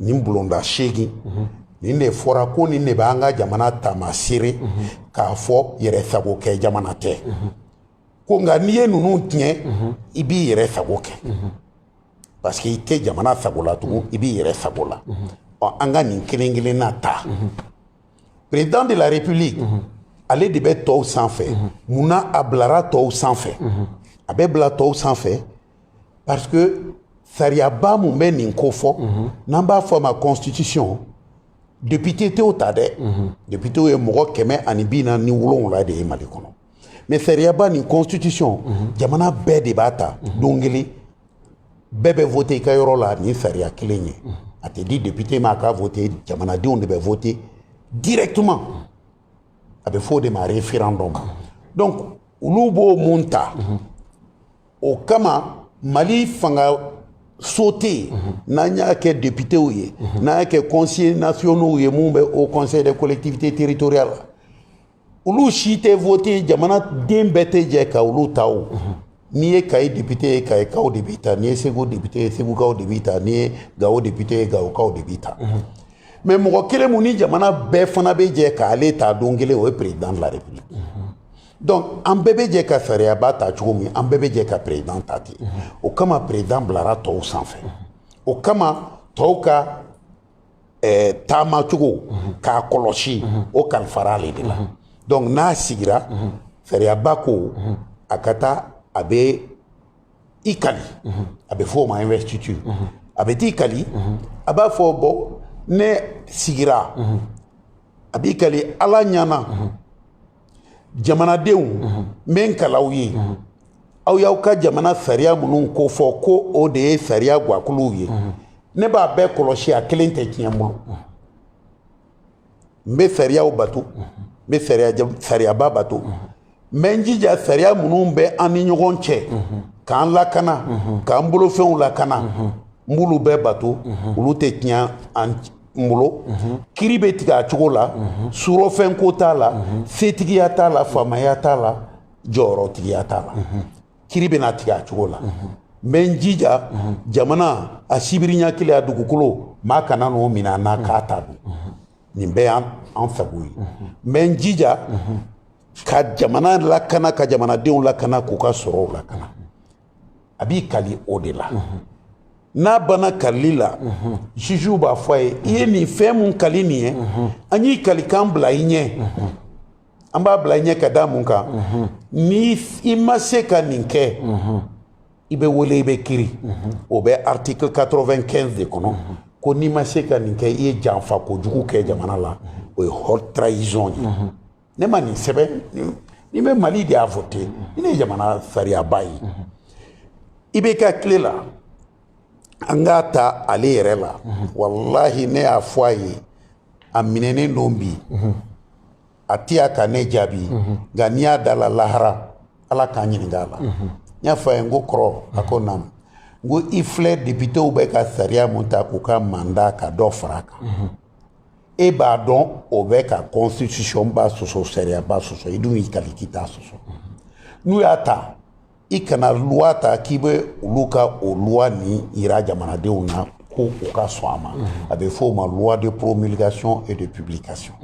nin bulonda seegin nin de fɔra ko nin de b'an ka jamana taamaseere k'a fɔ yɛrɛ sago kɛ jamana tɛ ko nka n'i ye ninnu tiɲɛ i b'i yɛrɛ sago kɛ parce que i tɛ jamana sago la tugun i b'i yɛrɛ sago la ɔ an ka nin kelen kelenna ta président de la république ale de bɛ tɔw sanfɛ mun na a bilara tɔw sanfɛ a bɛ bila tɔw sanfɛ parce que sariyaba mun bɛ nin ko fɔ mhm. n'an b'a fɔ a ma constitution député tɛ o ta dɛ mhm. député ye mɔgɔ kɛmɛ ani bi naani ni wolonwula de ye mali kɔnɔ mais sariyaba nin constitution mhm. jamana bɛɛ de b'a ta don kelen bɛɛ bɛ vote i ka yɔrɔ la nin sariya kelen ye a tɛ di député ma a ka vote jamanadenw de bɛ vote directement a bɛ fɔ o de ma referendum donc olu b'o mun ta o kama mali fangaso tɔw n'an y'a kɛ deputew ye n'an y'a kɛ conseillers nationaux ye mun bɛ haut conseil des collectivités territoriales la olu si tɛ vote jamanaden bɛɛ tɛ jɛ ka olu ta o n'i ye kayi député ye kayikaw de b'i ta n'i ye segu député ye segukaw de b'i ta n'i ye gawo député ye gawokaw de b'i ta mais mɔgɔ kelen mun ni jamana bɛɛ fana bɛ jɛ k'ale ta don kelen o ye président de la république donc an bɛɛ bɛ jɛ ka sariyaba ta cogo min an bɛɛ bɛ jɛ ka président ta ten o kama président bilara tɔw sanfɛ o kama tɔw ka taamacogo k'a kɔlɔsi o kalifara ale de la donc n'a sigira sariyaba ko a ka taa a bɛ i kali a bɛ fɔ o ma investiture a bɛ t'i kali a b'a fɔ bon ne sigira a b'i kali ala ɲana jamanadenw n bɛ n kal'aw ye aw y'aw ka jamana sariya minnu ko fɔ ko o de ye sariya gakuluw ye ne b'a bɛɛ kɔlɔsi a kelen tɛ tiɲɛ n bolo n bɛ sariyaw bato n bɛ sariyaba bato n bɛ n jija sariya minnu bɛ an ni ɲɔgɔn cɛ k'an lakana k'an bolofɛnw lakana n b'olu bɛɛ bato olu tɛ tiɲɛ an n bolo kiri bɛ tigɛ a cogo la surɔfɛnko t'a la setigiya t'a la faamaya t'a la jɔyɔrɔtigiya t'a la kiri bɛna tigɛ a cogo la n bɛ n jija jamana a sibiri ɲɛ kelen a dugukolo maa kana n'o minɛ an na k'a ta dun nin bɛɛ y'an sago ye n bɛ n jija ka jamana lakana ka jamanadenw lakana k'u ka sɔrɔw lakana a b'i kali o de la n'a banna kalili la jugew b'a fɔ a ye i ye nin fɛn mun kali nin ye an y'i kalikan bila i ɲɛ an b'a bila i ɲɛ ka da mun kan ni i ma se ka nin kɛ i bɛ wele i bɛ kiri o bɛ article 95 de kɔnɔ ko n'i ma se ka nin kɛ i ye janfa kojugu kɛ jamana la o ye haute trahison ye ne ma nin sɛbɛn ni bɛ mali de y'a voté nin de ye jamana sariyaba ye i bɛ ka tile la an k'a ta ale yɛrɛ la walahi ne y'a fɔ a ye a minɛnen don bi a tɛ se ka ne jaabi nka ni n y'a da a la lahara ala ka n ɲininka a la n y'a fɔ a ye n ko kɔrɔ a ko naamu n ko i filɛ députéw bɛ ka sariya mun ta k'u ka mandat ka dɔ fara a kan e b'a dɔn o bɛ ka constitution ba sɔsɔ sariyaba sɔsɔ i dun y'i kali k'i t'a sɔsɔ n'u y'a ta i kana loi ta k'i bɛ olu ka o loi nin yira jamanadenw na ko u ka sɔn a ma a bɛ fɔ o ma loi de promulgation et de publication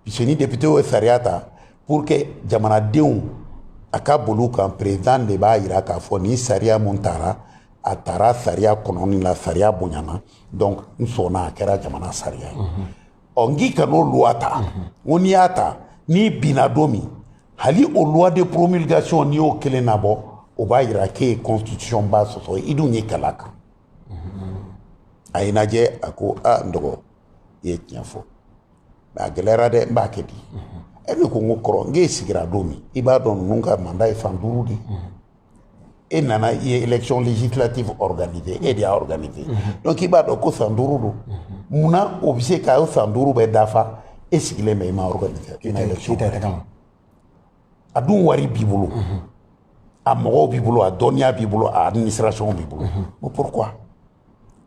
puisque ni député ye sariya ta pour que jamanadenw a ka boli u kan président de b'a yira k'a fɔ nin sariya min tara a tara sariya kɔnɔ ni la sariya bonyana donc n sɔnna a kɛra jamana sariya ye ɔ n k'i kan'o loi ta ko n'i y'a ta n'i binna don min hali o loi de promulgation n'i y'o kelen nabɔ o b'a yira k'e ye constitution ba sɔsɔ i dun y'i kali a kan a ye n lajɛ a ko a n dɔgɔ i ye tiɲɛ fɔ mais a gɛlɛyara dɛ n b'a kɛ di e ne ko n ko kɔrɔ n k'e sigira don min i b'a dɔn ninnu ka mandat ye san duuru de e nana i ye élection législative organisée e de y'a organisé mhm. donc i b'a dɔn ko san duuru don mhm. munna o bɛ se ka o san duuru bɛɛ dafa e sigilen bɛ i ma organisé i ma élection a dun wari b'i bolo mhm. a mɔgɔw b'i bolo a dɔnniya b'i bolo a administration b'i bolo ko pourquoi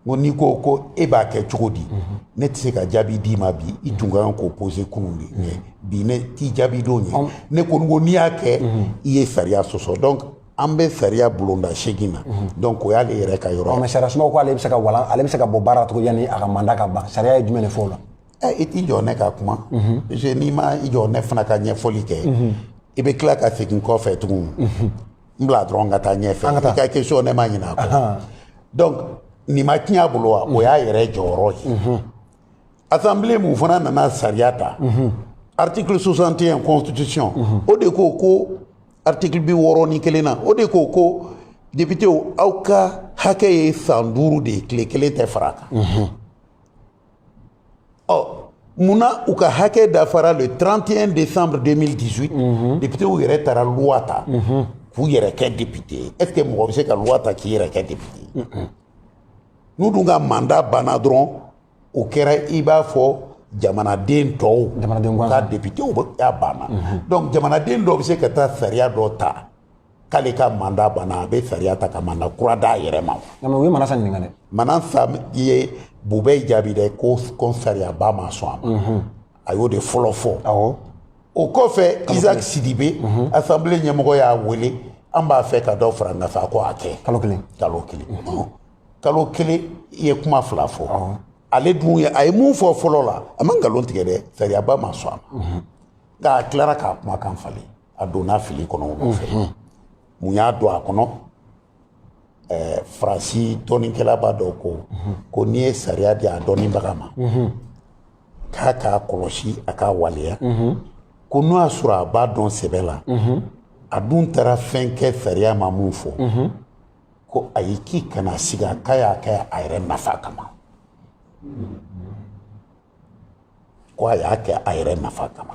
ko n'i ko ko e b'a kɛ cogo di mhm. ne tɛ se ka jaabi d'i ma bi i tun ka kan k'o poser kunun de mhm. bi ne t'i jaabi don ye ne ko ko n'i y'a kɛ mhm. i ye sariya sɔsɔ donc an bɛ sariya bulonda seegin na donc o y'ale yɛrɛ ka yɔrɔ mais sariya sumaw ko ale bɛ se ka walan ale bɛ se ka bɔ baara cogo yanni a ka mandat ka ban sariya ye jumɛn de fɔ o la eh, i t'i jɔ ne ka kuma parce que n'i ma i jɔ ne fana ka ɲɛfɔli kɛ i bɛ tila ka segin kɔfɛ tugun n bila dɔrɔn ka taa ɲɛfɛ an ka taa i ka question ne ma ɲinɛ a kɔ donc nin ma tiɲɛ a bolo wa o y'a yɛrɛ jɔyɔrɔ ye mhm. assemblée mun fana nana sariya ta mhm. article 61 constitution mhm. o de ko ko article bi wɔɔrɔ ni kelen na o de ko ko députéw aw ka hakɛ ye san duuru de ye tile kelen tɛ fara a kan ɔ munna u ka hakɛ dafara le 31 décembre 2018 mhm. députéw yɛrɛ taara loi ta mhm. k'u yɛrɛ kɛ député ye est ce que mɔgɔ bɛ se ka loi ta k'i yɛrɛ kɛ député ye n'u dun ka mandat banna dɔrɔn u kɛra i b'a fɔ jamanaden tɔw u ka députéya banna donc jamanaden dɔw bɛ se ka taa sariya dɔ ta k'ale ka manda banna a bɛ sariya ta ka manda kura d'a yɛrɛ ma nka o ye manasa ɲininka dɛ manasa ye bubɛyi jaabi dɛ ko ko sariyaba ma sɔn a ma a y'o de fɔlɔ fɔ awɔ o kɔfɛ isaac sidibe asanbile ɲɛmɔgɔ y'a wele an b'a fɛ ka dɔ fara nafa ko a kɛ kalo kelen kalo kelen kalo kelen i ye kuma fila fɔ ale dun ye a ye mun fɔ fɔlɔ la a ma nkalon tigɛ dɛ sariyaba ma sɔn a ma nka a tilara k'a kumakan falen a donna fili kɔnɔ o nɔfɛ mun y'a don a kɔnɔ ɛɛ faransi dɔnnikɛlaba dɔ ko ko n'i ye sariya di a dɔnnibaga ma k'a k'a kɔlɔsi a k'a waleya ko n'o y'a sɔrɔ a b'a dɔn sɛbɛ la a dun taara fɛn kɛ sariya ma min fɔ ko ayi k'i kana siga k'a y'a kɛ a yɛrɛ nafa kama ko a y'a kɛ a yɛrɛ nafa kama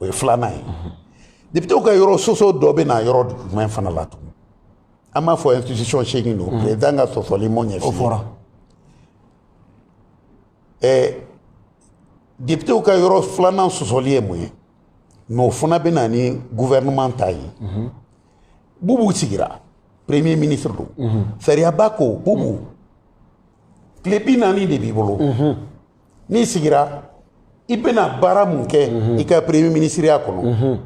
o ye filanan ye depitew ka yɔrɔ sɔsɔ dɔ bɛ na yɔrɔ jumɛn fana la tugun an b'a fɔ institution seegin don président ka sɔsɔli m'o ɲɛf'i ye o fɔra ɛɛ depitew ka yɔrɔ filanan sɔsɔli ye mun ye mais o fana bɛ na ni gouvernement ta ye bubu sigira premier ministre don sariyaba ko bubu tile bi naani de b'i bolo n'i sigira i bɛna baara mun kɛ mhm. i ka premier minisiriya kɔnɔ mhm.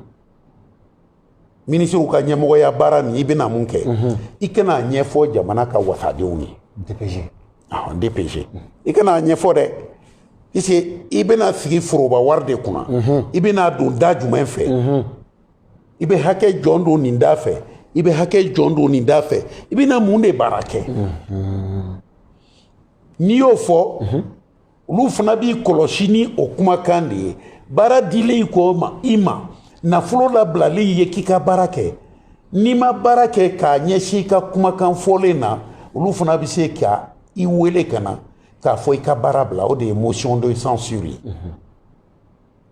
minisiriw ka ɲɛmɔgɔya baara nin i bɛna mun kɛ mhm. i ka n'a ɲɛfɔ jamana ka wasadenw ye dpg dpg i ka n'a ɲɛfɔ dɛ puisque i bɛna sigi foroba wari de kunna i bɛn'a don da jumɛn fɛ i bɛ hakɛ jɔn don nin da fɛ i bɛ hakɛ jɔn don nin da fɛ i bɛna mun de baara kɛ n'i y'o fɔ olu fana b'i kɔlɔsi ni o kumakan de ye baara dilen i kɔ ma i ma nafolo labilalen i ye k'i ka baara kɛ n'i ma baara kɛ k'a ɲɛsin i ka kumakan fɔlen na olu fana bɛ se ka i wele ka na k'a fɔ i ka baara bila o de ye motion de censure ye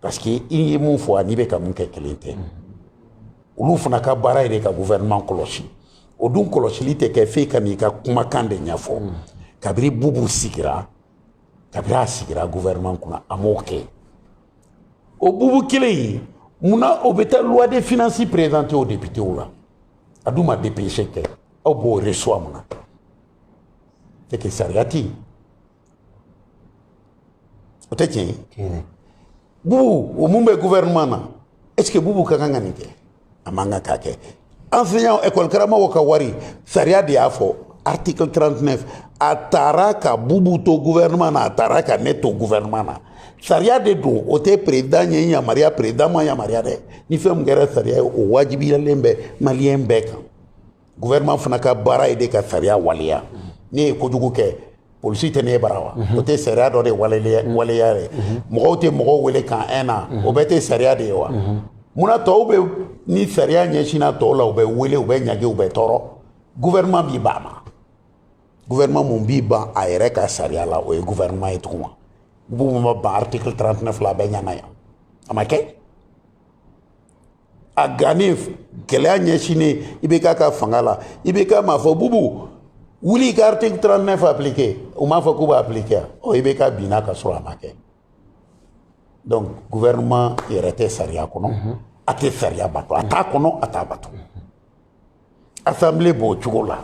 parce que i ye mun fɔ an'i bɛ ka min kɛ kelen tɛ olu fana ka baara ye de ka gouvernement kɔlɔsi o dun kɔlɔsili tɛ kɛ f'e ka n'i ka kumakan de ɲɛfɔ kabiri bubu sigira kabiri a sigira gouvernement kunna a m'o kɛ o bubu kelen in mun na o bɛ taa loi de finances présenter o députéw la a dun ma dpg kɛ aw b'o reçoit mun na c'est que sariya tɛ yen o tɛ tiɲɛ ye bubu o mun bɛ gouvernement na est ce que bubu ka kan ka nin kɛ a man kan k'a kɛ enseignant école karamɔgɔw ka wari sariya de y'a fɔ article 39 a taara ka bubu to gouvernement na a taara ka ne to gouvernement na sariya de don o tɛ président ɲɛ yamaruya président ma yamaruya dɛ ni fɛn min kɛra sariya ye o wajibiyalen bɛ maliyɛn bɛɛ kan gouvernement fana ka baara ye de ka sariya waleya ne ye kojugu kɛ polisi tɛ ne bara wa o tɛ sariya dɔ de waleya ye mɔgɔw tɛ mɔgɔw wele camp un na o bɛɛ tɛ sariya de ye wa munna tɔw bɛ ni sariya ɲɛsinna tɔw la u bɛ wele u bɛ ɲangi u bɛ tɔɔrɔ gouvernement b'i ban mais gouvernement mun b'i ban a yɛrɛ ka sariya la o ye gouvernement ye tuguni bubu ma ban article 39 la bɛɛ ɲana yan a ma kɛ a gannen gɛlɛya ɲɛsinnen ibk ka fanga la ibk m'a fɔ bubu wuli i ka article 39 appliquer u m'a fɔ k'u b'a appliquer ɔ ibk binna ka sɔrɔ a ma kɛ donc gouvernement yɛrɛ tɛ sariya kɔnɔ a tɛ sariya bato a t'a kɔnɔ a t'a bato assemblée b'o cogo la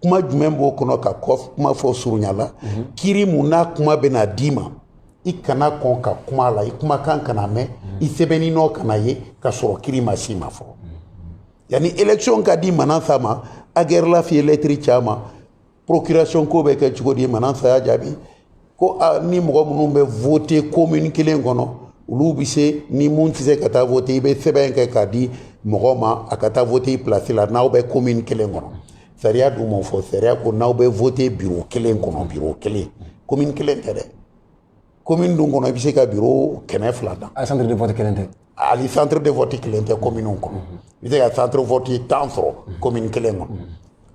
kuma jumɛn b'o kɔnɔ ka kuma fɔ surunya la mhm. kiri mun n'a kuma bɛna d'i ma i kana kɔn ka kuma la i kumakan kana mɛn i sɛbɛnni nɔ kana ye ka sɔrɔ kiri ma s'i ma fɔlɔ yanni élection ka di manasa ma agɛrɛlaf ye lɛtiri c'a ma procuration ko bɛ kɛ cogo di manasa y'a jaabi ko ni mɔgɔ minnu bɛ vote komini kelen kɔnɔ olu bɛ se ni mun tɛ se ka taa vote i bɛ sɛbɛn kɛ k'a di mɔgɔ ma a ka taa vote i pilasi la n'aw bɛ komini kelen kɔnɔ sariya dun m'o fɔ sariya ko n'aw bɛ vote biro kelen kɔnɔ biro kelen komini kelen tɛ dɛ komini dun kɔnɔ i bɛ se ka biro kɛmɛ fila dan. a centre de vote kelen tɛ. hali centre de vote kelen tɛ komini kɔnɔ i bɛ se ka centre vote tan sɔrɔ komini kelen kɔnɔ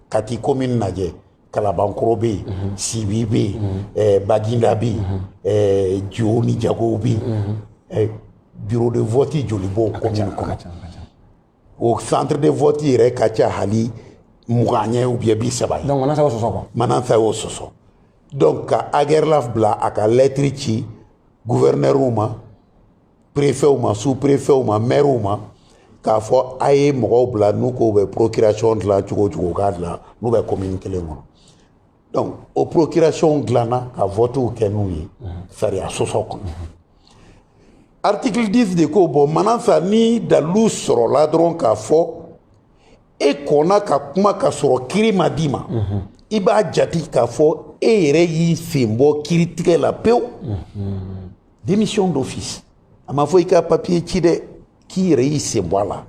kati komini lajɛ. kalabankɔrɔ bɛ yen mhm. sibi bɛ yen mhm. eh, baginda bɛ yen eh, jo ni jago bɛ yen eh, bureau de vote joli b'o commune kɔnɔ o centre de vote yɛrɛ ka ca hali mugan ye ou bien bi saba ye. donc manasa y'o sɔsɔ quoi. manasa y'o sɔsɔ donc ka agɛrɛlaf bila a ka lɛtiri ci guvɛrinɛriw ma perefɛw ma su perefɛw ma mɛriw ma k'a fɔ a ye mɔgɔw bila n'u k'u bɛ procurasiyɔn dilan cogo cogo k'a dilan n'u bɛ komini kelen kɔnɔ donc o procurasiyɔnw dilanna ka vɔtiw kɛ n'u ye sariya sɔsɔ kɔnɔ article 10 de ko bon manasa ni dalu sɔrɔla dɔrɔn k'a fɔ e kɔnna ka kuma ka sɔrɔ kiri ma d'i ma i b'a jate k'a fɔ e yɛrɛ y'i sen bɔ kiritigɛ la pewu démission d'office a ma fɔ i ka papiye ci dɛ k'i yɛrɛ y'i sen bɔ a la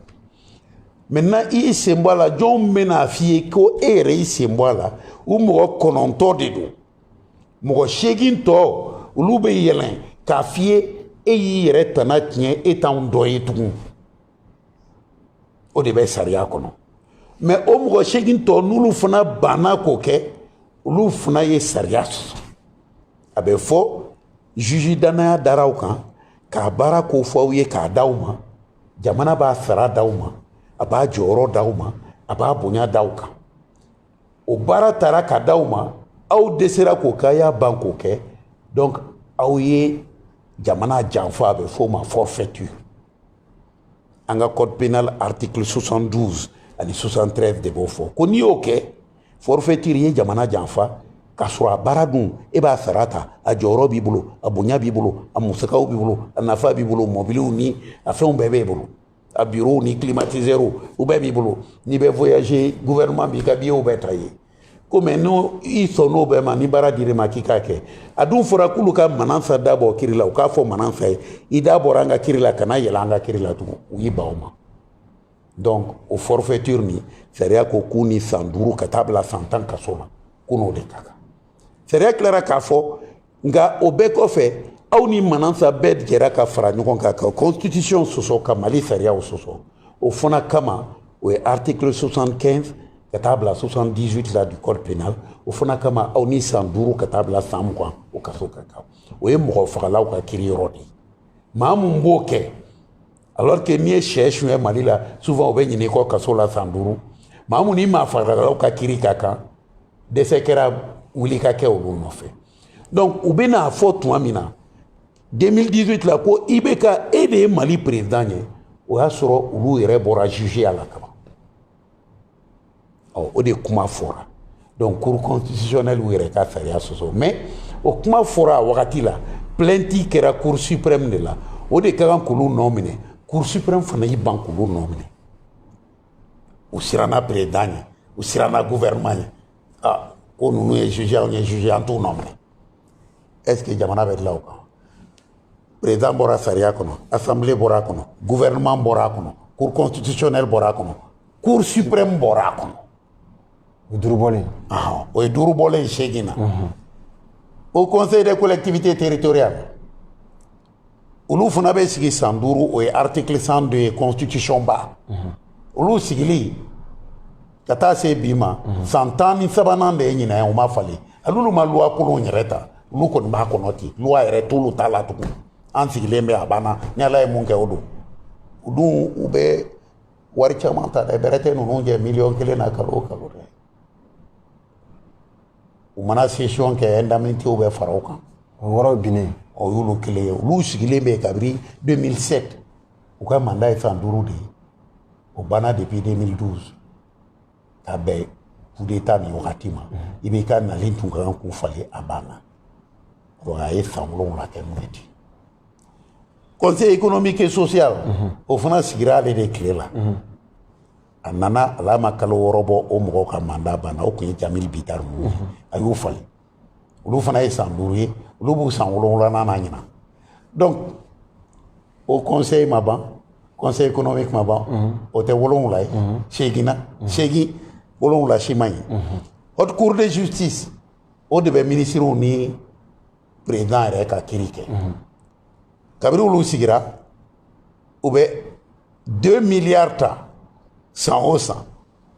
maintenant i y'i sen bɔ a la jɔn bɛn'a f'i ye ko e yɛrɛ y'i sen bɔ a la u mɔgɔ kɔnɔntɔn de don mɔgɔ seegin tɔ olu bɛ yɛlɛn k'a f'i ye e y'i yɛrɛ tana tiɲɛ e t'anw dɔ ye tugun o de bɛ sariya kɔnɔ mais o mɔgɔ seegin tɔ n'olu fana banna k'o kɛ olu fana ye sariya sɔsɔ a bɛ fɔ juge dannaya dara aw kan k'a baara ko fɔ aw ye k'a da aw ma jamana b'a sara da aw ma a b'a jɔyɔrɔ da aw ma a b'a bonya da aw kan o baara taara ka da aw ma aw dɛsɛra k'o kɛ a y'a ban k'o kɛ donc aw ye jamana janfa a bɛ f'o ma forfaiture an ka code pénal article 72 ani 73 de b'o fɔ ko n'i y'o kɛ forfaiture ye jamana janfa k'a sɔrɔ a baara dun e b'a sara ta a jɔyɔrɔ b'i bolo a bonya b'i bolo a musakaw b'i bolo a nafa b'i bolo mɔbiliw ni a fɛnw bɛɛ b'e bolo a bureau ni climatiseur u bɛɛ b'i bolo n'i bɛ voyager gouvernement b'i ka billet bɛɛ ta i ye komi ni i sɔnn'o bɛɛ ma ni baara dir'i ma k'i k'a kɛ a dun fɔra k'olu ka manansa da bɔ kiri la u k'a fɔ manansa ye i da bɔra an ka kiri la kana yɛlɛ an ka kiri la tugun u y'i ban o ma donc o forfaiture nin sariya ko k'u ni san duuru ka taa bila san tan kaso la k'u n'o de ka kan sariya tilara k'a fɔ nka o bɛɛ kɔfɛ aw ni manansa bɛɛ jɛra ka fara ɲɔgɔn kan ka constitution sɔsɔ ka mali sariyaw sɔsɔ o fana kama o ye article 75 ka taa bila 78 la du code pénal o fana kama aw ni san duuru ka taa bila san mugan o kaso ka kan o ye mɔgɔ fagalaw ka kiri yɔrɔ de ye maa mun b'o kɛ alors que n'i ye sɛ suɲɛ mali la souvent u bɛ ɲinɛ i kɔ kaso la san duuru maa mun ni maa fagalaw ka kiri ka kan dɛsɛ kɛra wuli ka kɛ olu nɔfɛ donc u bɛn'a fɔ tuma min na 2018 la ko IBK e de ye mali président ye o y'a sɔrɔ olu yɛrɛ bɔra jugeya la kaban ɔ o de kuma fɔra donc cour constitutionnelle u yɛrɛ ka sariya sɔsɔ mais o kuma fɔra a wagati la plainte kɛra cour suprême de la o de ka kan k'olu nɔ minɛ cour suprême fana y'i ban k'olu nɔ minɛ u siranna président ɲɛ u siranna gouvernement ɲɛ ah ko ninnu ye juge anw ye juge an t'u nɔ minɛ est-ce que jamana bɛ dilan o kan président bɔra sariya kɔnɔ assemblée bɔra a kɔnɔ gouvernement bɔra a kɔnɔ cour constitutionnelle bɔra a kɔnɔ cour suprême bɔra a kɔnɔ o duuru bɔlen o ye duuru bɔlen ye seegin na haut conseil des collectivités territoriales olu fana bɛ sigi san duuru o ye article 102 ye constitution ba olu sigili ka taa se bi ma san tan ni sabanan de ye ɲinan ye u ma falen hal'olu ma luwa kolon yɛrɛ ta olu kɔni b'a kɔnɔ ten luwa yɛrɛ t'olu t'a la tugun an sigilen bɛ a banna ni ala ye mun kɛ o don u dun u bɛ wari caman ta dɛ bɛrɛ tɛ ninnu jɛ miliyɔn kelen na kalo o kalo dɛ u mana sesiyɔn kɛ indemnitéw bɛ fara o kan o yɔrɔ binnen o y'olu kelen ye olu sigilen bɛ kabiri 2007 u ka manda ye san duuru de ye o banna depuis 2012 ka bɛn kudeta nin wagati ma IBK nalen tun ka kan k'u falen a banna donc a ye san wolonwula kɛ n'o ye ten conseil économique et social o fana sigira ale de tile la a nana hal'a ma kalo wɔɔrɔ bɔ o mɔgɔw ka manda banna o tun ye Jeamille Bittar ye a y'u falen olu fana ye san duuru ye olu b'u san wolonwulanan na ɲinan donc o kɔnse ma ban kɔnse économique ma ban o tɛ wolonwula ye seginnan segin wolonwula si ma ɲɛ haute cour de justice o de bɛ minisiriw ni perezidan yɛrɛ ka kiri kɛ kabiri olu sigira u bɛ 2 miliyari ta san o san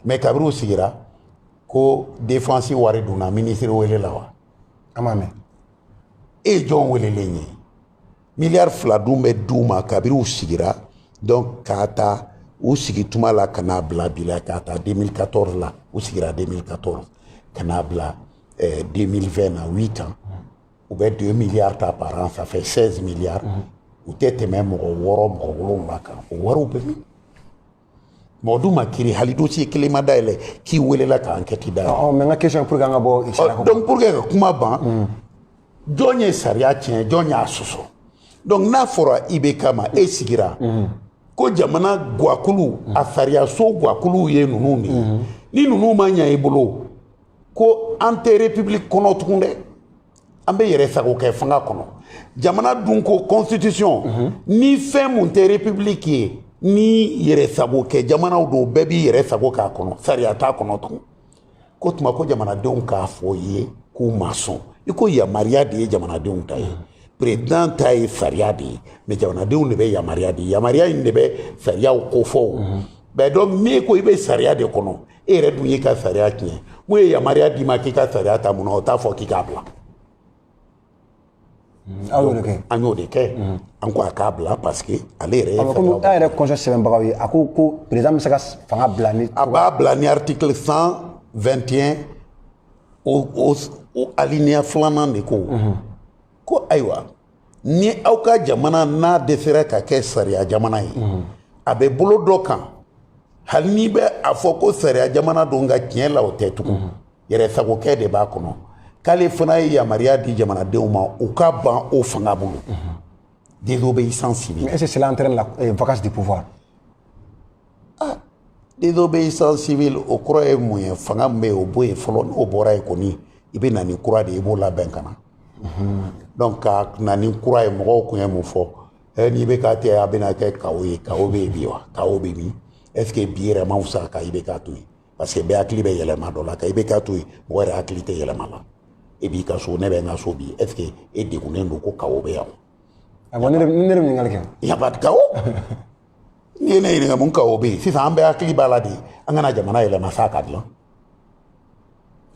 mɛ kabiri u sigira ko defansi wari dunna minisiri welela wa an m'a mɛn e ye jɔn welelen ye miliyari fila dun bɛ d'u ma kabiri u sigira donc k'a ta u sigi tuma la ka n'a bila bi la k'a ta 2014 la u sigira 2014 ka n'a bila 2020 eh, na 8 ans u bɛ 2 miliyari ta par an ça fait sɛzi miliyari u tɛ tɛmɛ mɔgɔ wɔɔrɔ mɔgɔ wolonwula kan o wariw bɛ min mɔgɔ dun ma kiri hali dosiye kelen ma dayɛlɛ k'i welela ka ankɛti dayɛlɛ mɛ n ka kɛsiyɔn pur que an ka bɔ dɔnku pur que ka kuma ban mm. jɔn ye sariya tiɲɛ jɔn y'a sɔsɔ dɔnku n'a fɔra IBK ma e sigira mm. ko jamana gakulu mm. a sariyaso gakuluw ye ninnu de ye ni ninnu ma ɲɛ i bolo ko an tɛ republiki kɔnɔ tugun dɛ an bɛ yɛrɛ sago kɛ fanga kɔnɔ jamana dun ko constitution mhm. ni fɛn mun tɛ republiki ye ni yɛrɛ sago kɛ jamanaw don bɛɛ b'i yɛrɛ sago k'a kɔnɔ sariya t'a kɔnɔ tugun ko tuma ko jamanadenw k'a fɔ i ye k'u ma sɔn i ko yamaruya de ye jamanadenw ta ye mhm. perezidan ta ye sariya de ye mɛ jamanadenw de bɛ yamaruya de ye yamaruya in de bɛ sariyaw kofɔ o mɛ donc n'e ko i bɛ sariya de kɔnɔ e yɛrɛ dun y'i ka sariya tiɲɛ mun ye yamaruya d'i ma k'i ka sariya ta mun na o t'a fɔ k'i k'a bila mm, aw y'o de kɛ an y'o de kɛ mm. an ko a k'a bila parce que ale yɛrɛ ye komi an yɛrɛ kɔnsɛ sɛbɛnbagaw ye a ko ko président bɛ se ka fanga bila ni a b'a bila ni article 121 o o o alinéa filanan de ko mm-hmm. ko ayiwa ni aw ka jamana n'a dɛsɛra ka kɛ sariya jamana ye a bɛ bolo dɔ kan hali n'i bɛ a fɔ ko sariya jamana don nka tiɲɛ la o tɛ tugun yɛrɛ sagokɛ de b'a kɔnɔ k'ale fana ye yamaruya di jamanadenw ma u ka ban o fanga bolo désobéissance civile est ce que cela entraîne la vacance de pouvoir désobéissance civile o kɔrɔ ye mun ye fanga min bɛ yen o bɔ yen fɔlɔ n'o bɔra yen kɔni i bɛ na ni kura de ye i b'o labɛn ka na donc ka na ni kura ye mɔgɔw kun ye mun fɔ ɛ n'ibk tɛ a bɛna kɛ chaos ye chaos bɛ yen bi wa chaos bɛ min est ce que bi yɛrɛ ma fisa ka ibk to yen parce que bɛɛ hakili bɛ yɛlɛma dɔ la ka ibk to yen mɔgɔ yɛrɛ hakili tɛ yɛlɛma la e b'i ka so ne bɛ n ka so bi est ce que e degunnen don ko chaos bɛ yan wa. a ko ne de bɛ ɲininkali kɛ. y a pas de chaos. n'i ye ne ɲininka mun chaos bɛ yen sisan an bɛɛ hakili b'a la de an ka na jamana yɛlɛma sa a ka dilan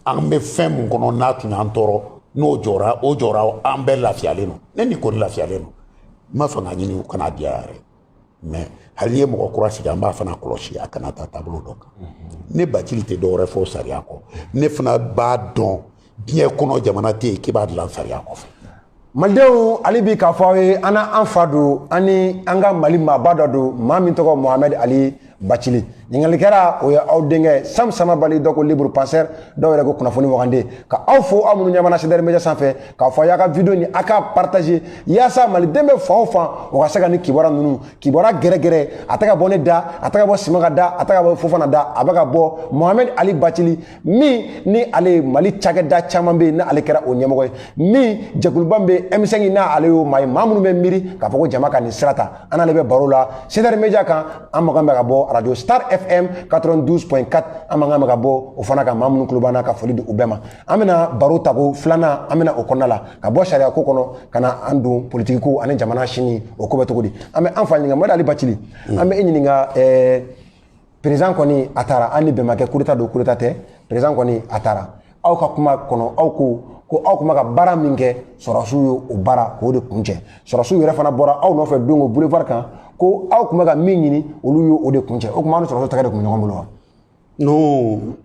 an bɛ fɛn min kɔnɔ n'a tun y'an tɔɔrɔ n'o jɔra o jɔra an bɛɛ lafiyalen don ne ni kɔni lafiyalen don n ma fanga ɲini u kan'a di yan yɛrɛ mais hali n'i ye mɔgɔ kura sigi an b'a fana kɔlɔsi a kana taa taabolo dɔ kan ne bacili tɛ dɔwɛrɛ fɔ sariya kɔ ne fana b'a dɔn diɲɛ kɔnɔ jamana tɛ yen k'i b'a dilan sariya kɔfɛ malidenw hali bi k'a fɔ aw ye an n'an fa don an ni an ka mali maaba dɔ don maa min tɔgɔ mohamɛd ali bacili ɲininkalikɛla o ye aw denkɛ sam samabali dɔ ko libre penseur dɔw yɛrɛ ko kunnafoni wagande ka aw fo aw minnu ɲɛ b'an na cdr media sanfɛ k'a fɔ a y'a ka video nin a k'a partager yaasa maliden bɛ fan o fan o ka se ka nin kibaru ninnu kibaru gɛrɛgɛrɛ a tɛ ka bɔ ne da a tɛ ka bɔ simaga da a tɛ ka bɔ fofana da a bɛ ka bɔ mohamɛd ali bacili min ni ale ye mali cakɛda caman bɛ yen n'ale kɛra o ɲɛmɔgɔ ye min jɛkuluba min bɛ m5 na ale y'o maa ye maa minnu bɛ miiri k'a fɔ ko jama ka nin sira ta an n'ale bɛ baro la cdr media kan an makan bɛ ka bɔ arajo star fm 92.4 an makan bɛ ka bɔ o fana kan maa minnu tulo b'an na ka foli di u bɛɛ ma an bɛna baro tako filanan an bɛna o kɔnɔna la ka bɔ sariya ko kɔnɔ ka na an don politiki ko ani jamana sini o ko bɛ cogo di an bɛ an fa ɲininka mohamɛd ali bacili an bɛ e ɲininka ɛɛ président kɔni a taara ani bɛn ma kɛ coup d'état don coup d'état tɛ président kɔni a taara aw ka kuma kɔnɔ aw ko ko aw tun bɛ ka baara min kɛ sɔrɔsiw ye o baara k'o de kuncɛ sɔrɔsiw yɛrɛ fana bɔra aw nɔfɛ don o boulevard kan ko aw tun bɛ ka min ɲini olu ye o de kuncɛ o tuma aw ni sɔrɔsiw tɛgɛ de tun bɛ ɲɔgɔn bolo wa non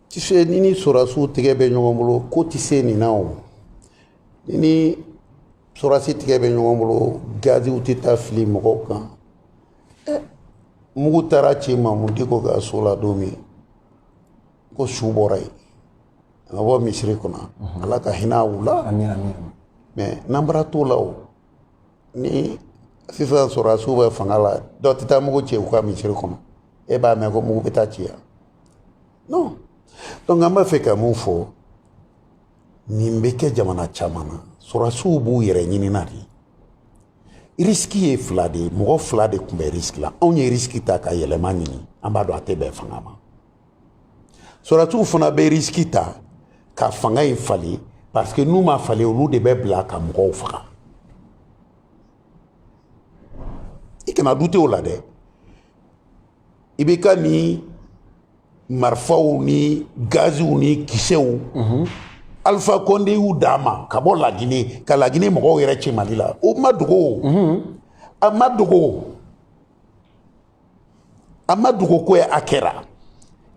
tu sais n'i ni sɔrɔsiw tɛgɛ bɛ ɲɔgɔn bolo ko tɛ se nin na o n'i ni sɔrɔsi tɛgɛ bɛ ɲɔgɔn bolo gaziw tɛ taa fili mɔgɔw kan mugu taara ci mahamud diko ka so la don min ko su bɔra yen a ka bɔ misiri kɔnɔ ala ka hinɛ u la mais n'an bara t'o la o ni sisan sɔrɔdasiw bɛ fanga la dɔ tɛ taa mugu ci u ka misiri kɔnɔ e b'a mɛn ko mugu bɛ taa ci yan non donc an b'a fɛ ka mun fɔ nin bɛ kɛ jamana caman na sɔrɔsiw b'u yɛrɛ ɲinina de risiki ye fila de ye mɔgɔ fila de tun bɛ risiki la anw ye risiki ta ka yɛlɛma ɲini an b'a dɔn a tɛ bɛn fanga ma sɔrɔsiw fana bɛ risiki ta ka fanga in falen parce que n'u m'a falen olu de bɛ bila ka mɔgɔw faga i kana dute o la dɛ IBK ni marifaw ni gaziw ni kisɛw mhm. alpha kɔnde y'u d'a ma ka bɔ laginɛ ka laginɛ mɔgɔw yɛrɛ ci mali la o ma dogo mhm. a ma dogo a ma dogo ko ye a kɛra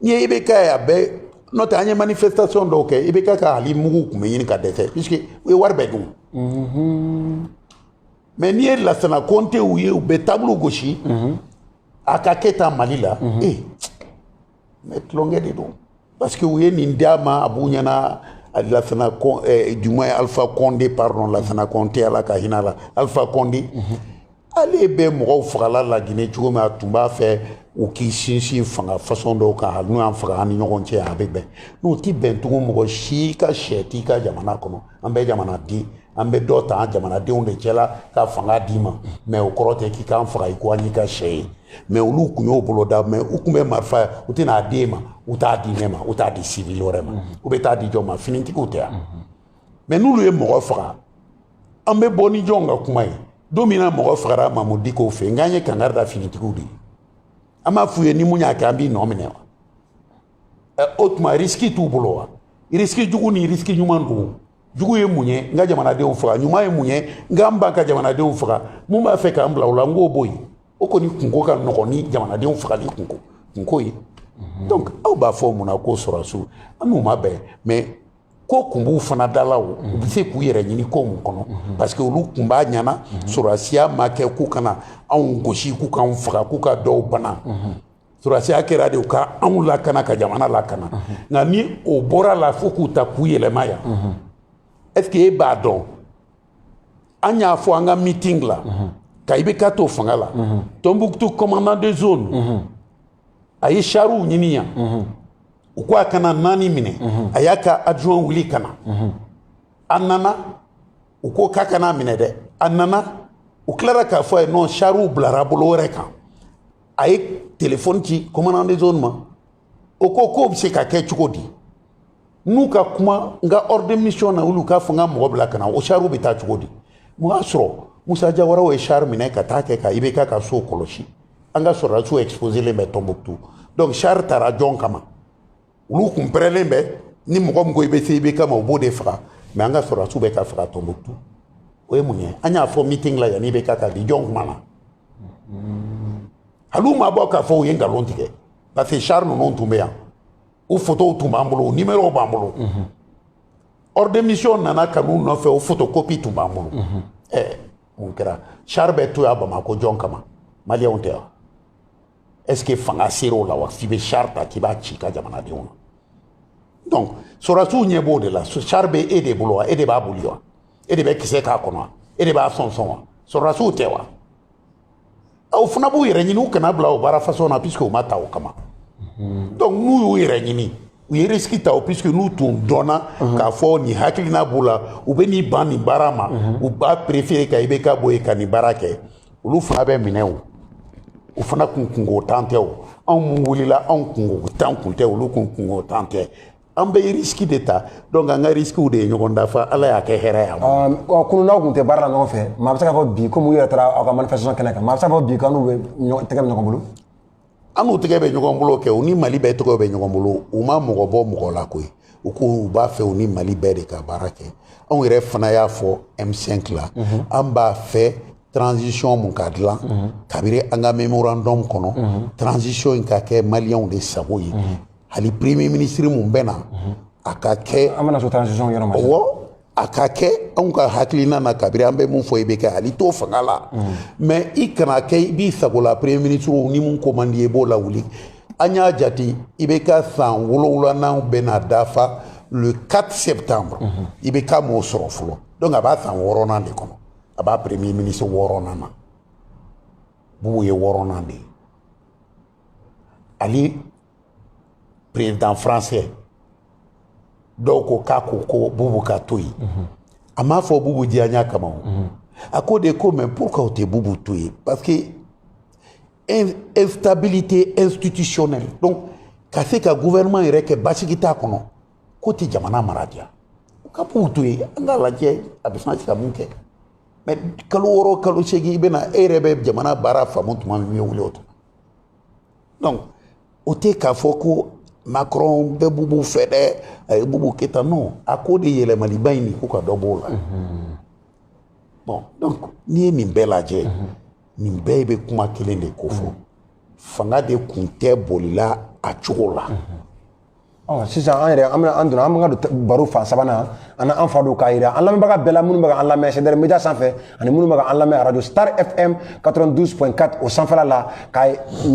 n'i ye IBK ye a bɛɛ n'o tɛ an ye manifestation dɔw kɛ IBK ka hali mugu tun bɛ ɲini ka dɛsɛ puisque u ye wari bɛɛ dun mhm. mais n'i ye lasana kɔntew ye u bɛ table gosi mhm. a ka kɛ tan mali la mhm. ee eh, mais tulonkɛ de don parce que u ye nin d'a ma a b'u ɲɛna lasana eh, du moins alpha kɔnde pardon lasana kɔnte ala ka hinɛ la alpha kɔnde mhm. ale bɛ mɔgɔw fagala laginɛ cogo min a tun b'a fɛ u k'i sinsin fanga fasɔn dɔw kan hali n'u y'an faga an ni ɲɔgɔn cɛ a bɛ bɛn n'u ti bɛn tugun mɔgɔ si ka sɛ t'i ka jamana kɔnɔ an bɛ jamana di an bɛ dɔ ta an jamanadenw de cɛla ka fanga d'i ma mais o kɔrɔ tɛ k'i k'an faga i ko an y'i ka sɛ ye mais olu kun y'o bolo da mais u kun bɛ marifa u tɛna a d'e ma u t'a di ne ma u t'a di sivili wɛrɛ ma u bɛ t'a di jɔn ma finitigiw tɛ yan mais n'olu ye mɔgɔ faga an bɛ bɔ ni jɔn ka kuma ye don min na mɔgɔ fagara mamudu diko fɛ nk'an ye kangari da finitigiw de ye an b'a f'u ye ni min y'a kɛ an b'i nɔ minɛ wa o tuma risiki t'u bolo wa risiki jugu ni risiki ɲuman don jugu ye mun ye n ka jamanadenw faga ɲuman ye mun ye n ka n ban ka jamanadenw faga mun b'a fɛ k'an bila o la n k'o bɔ yen o kɔni kunko ka nɔgɔn ni jamanadenw fagali kunko kunko ye donc aw b'a fɔ mun na ko sɔrɔsiw an n'u ma bɛn mais ko kun b'u fana dala o u bɛ se k'u yɛrɛ ɲini ko mun kɔnɔ parce que olu kun b'a ɲɛna sɔrɔsiya ma kɛ k'u kana anw gosi k'u k'anw faga k'u ka dɔw bana sɔrɔsiya kɛra de u ka anw lakana ka jamana lakana nka ni o bɔra la fo k'u ta k'u yɛlɛma yan est-ce que e b'a dɔn an y'a fɔ an ka meeting la ka IBK to fanga la tɔnbuktu commandant de zone a ye sariw ɲini yan u ko a ka na naani minɛ a y'a ka adjoint wuli ka na a nana u ko k'a ka na a minɛ dɛ a nana u tilara k'a fɔ a ye non sariw bilara bolo wɛrɛ kan a ye telefɔni ci commandant de zone ma o ko k'o bɛ se ka kɛ cogo di n'u ka kuma n ka ordre de mission na olu k'a fɔ n ka mɔgɔ bila ka na o sariw bɛ taa cogo di o y'a sɔrɔ musa jawaraw ye sari minɛ ka taa kɛ ka IBK ka so kɔlɔsi an ka sɔrɔdasiw exposelen bɛ tɔnbuktu donc sari taara jɔn kama olu kun pɛrɛnlen bɛ ni mɔgɔ min ko i bɛ se ibk ma u b'o de faga mais an ka sɔrɔdasiw bɛ ka faga tɔnbukutu o ye mun ye an y'a fɔ meeting la yanni ibk ka bin jɔn kumana hali u ma bɔ k'a fɔ u ye nkalon tigɛ parce que char ninnu tun bɛ yan u fotow tun b'an bolo u nimɛrɔw b'an bolo ordre de mission nana ka n'u nɔfɛ o photocopie tun b'an bolo ɛɛ mun kɛra char bɛ to yan bamakɔ jɔn kama maliyɛnw tɛ yan est ce que fanga sera o la wa f'i bɛ char ta k'i b'a ci i ka jamanadenw ma donc sɔrɔdasiw ɲɛ b'o de la char bɛ e de bolo wa e de b'a boli wa e de bɛ kisɛ k'a kɔnɔ wa e de b'a sɔn sɔn wa sɔrɔdasiw tɛ wa aw fana b'u yɛrɛ ɲini u kana bila o baara façon na puisque u ma ta o kama donc n'u y'u yɛrɛ ɲini u ye risiki ta o puisque n'u tun dɔnna k'a fɔ nin hakilina b'u la u bɛ n'i ban nin baara ma u b'a préféré ka ibk bɔ yen ka nin baara kɛ olu fana bɛ minɛ o u fana kun kungolo tan tɛ o anw mun wulila anw kungolo tan kun tɛ olu kun kungolo tan tɛ an bɛ risiki de ta donc an ka risikiw de ye ɲɔgɔn dafa ala y'a kɛ hɛrɛ y'an ma ɔ kunu n'aw tun tɛ baara la ɲɔgɔn fɛ maa bɛ se k'a fɔ bi komi u yɛrɛ taara aw ka manifestation kɛnɛ kan maa bɛ se k'a fɔ bi k'aw n'u bɛɛ tɛgɛ bɛ ɲɔgɔn bolo an n'u tɛgɛ bɛ ɲɔgɔn bolo kɛ u ni mali bɛɛ tɛgɛ bɛ ɲɔgɔn bolo u ma mɔgɔ bɔ mɔgɔ la koyi u ko u b'a fɛ u ni mali bɛɛ de ka baara kɛ anw yɛrɛ fana y'a fɔ m5 la mhm. an b'a fɛ transition mun ka dilan mhm. kabiri an ka memorandum kɔnɔ mhm. transition in ka kɛ maliyɛnw de sago ye hali premier ministre mun bɛ na a ka kɛ an bɛna se transition yɔrɔ ma a ka kɛ anw ka hakilina na kabiri an bɛ mun fɔ i bɛ kɛ hali to fanga la mais i kana kɛ i b'i sago la premier ministre ni mun ko man di i b'o lawuli an y'a jate ibk san wolonwulanan bɛna dafa le 4 septembre ibk m'o sɔrɔ fɔlɔ donc a b'a san wɔɔrɔnan de kɔnɔ a b'a premier ministre wɔɔrɔnan na bubu ye wɔɔrɔnan de ye hali président français dɔw ko k'a ko ko bubu ka to yen mhm. a m'a fɔ bubu diyanya kama o mhm. a ko de ko mais pourquoi o tɛ bubu to yen parce que instabilité institutionnelle donc ka se ka gouvernement yɛrɛ kɛ basigi t'a kɔnɔ k'o tɛ jamana mara diya u ka bubu to yen an k'a lajɛ a bɛ se ka mun kɛ mais kalo wɔɔrɔ kalo seegin i bɛna e yɛrɛ bɛ jamana baara faamu tuma min i bɛ wuli o tuma donc o tɛ k'a fɔ ko macron bɛ bubu fɛ dɛ a ye bubu kɛrɛ ta non a ko de yɛlɛmaliba in nin ko ka dɔ b'o la mhm. bon donc n'i ye nin bɛɛ lajɛ mhm. nin bɛɛ bɛ kuma kelen de kofɔ mhm. fanga de kun tɛ bolila a cogo la ɔ sisan an yɛrɛ an bɛna an donna an bɛ ka don baro fan sabanan an n'an fa don k'a jira an lamɛnbaga bɛɛ la minnu bɛ ka an lamɛn cdr media sanfɛ ani minnu bɛ ka an lamɛn arajo star fm 92.4 o sanfɛla la ka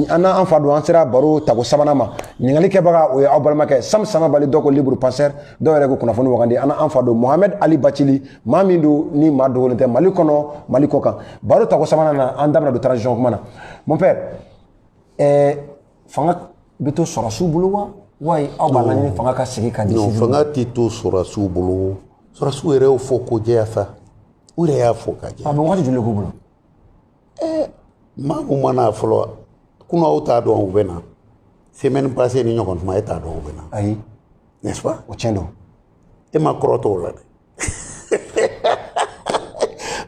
an n'an fa don an sera baro tako sabanan ma ɲininkali kɛbaga o ye aw balimakɛ sam samabaly dɔw ko libre penseur dɔw yɛrɛ ko kunnafoni wagandi an n'an fa don mohamed ali bathily maa min don ni maa dogolen tɛ mali kɔnɔ mali kɔ kan baro tako sabanan na an da bɛna don transition kuma na mon père eh, fanga bɛ to sɔrɔsiw bolo wa wali aw b'a laɲini fanga ka segin ka di non sivili fanga tɛ to sɔrɔsiw bolo sɔrɔsiw yɛrɛ y'o fɔ k'o jɛya sa u yɛrɛ y'a fɔ ka jɛ ma a bɛ wagati joli de k'u bolo maa min ma na fɔlɔ kunun aw t'a dɔn u bɛ na semaine passée ni ɲɔgɔn tuma e t'a dɔn u bɛ na ayi n'est ce pas o tiɲɛ don e ma kɔrɔtɔ o la dɛ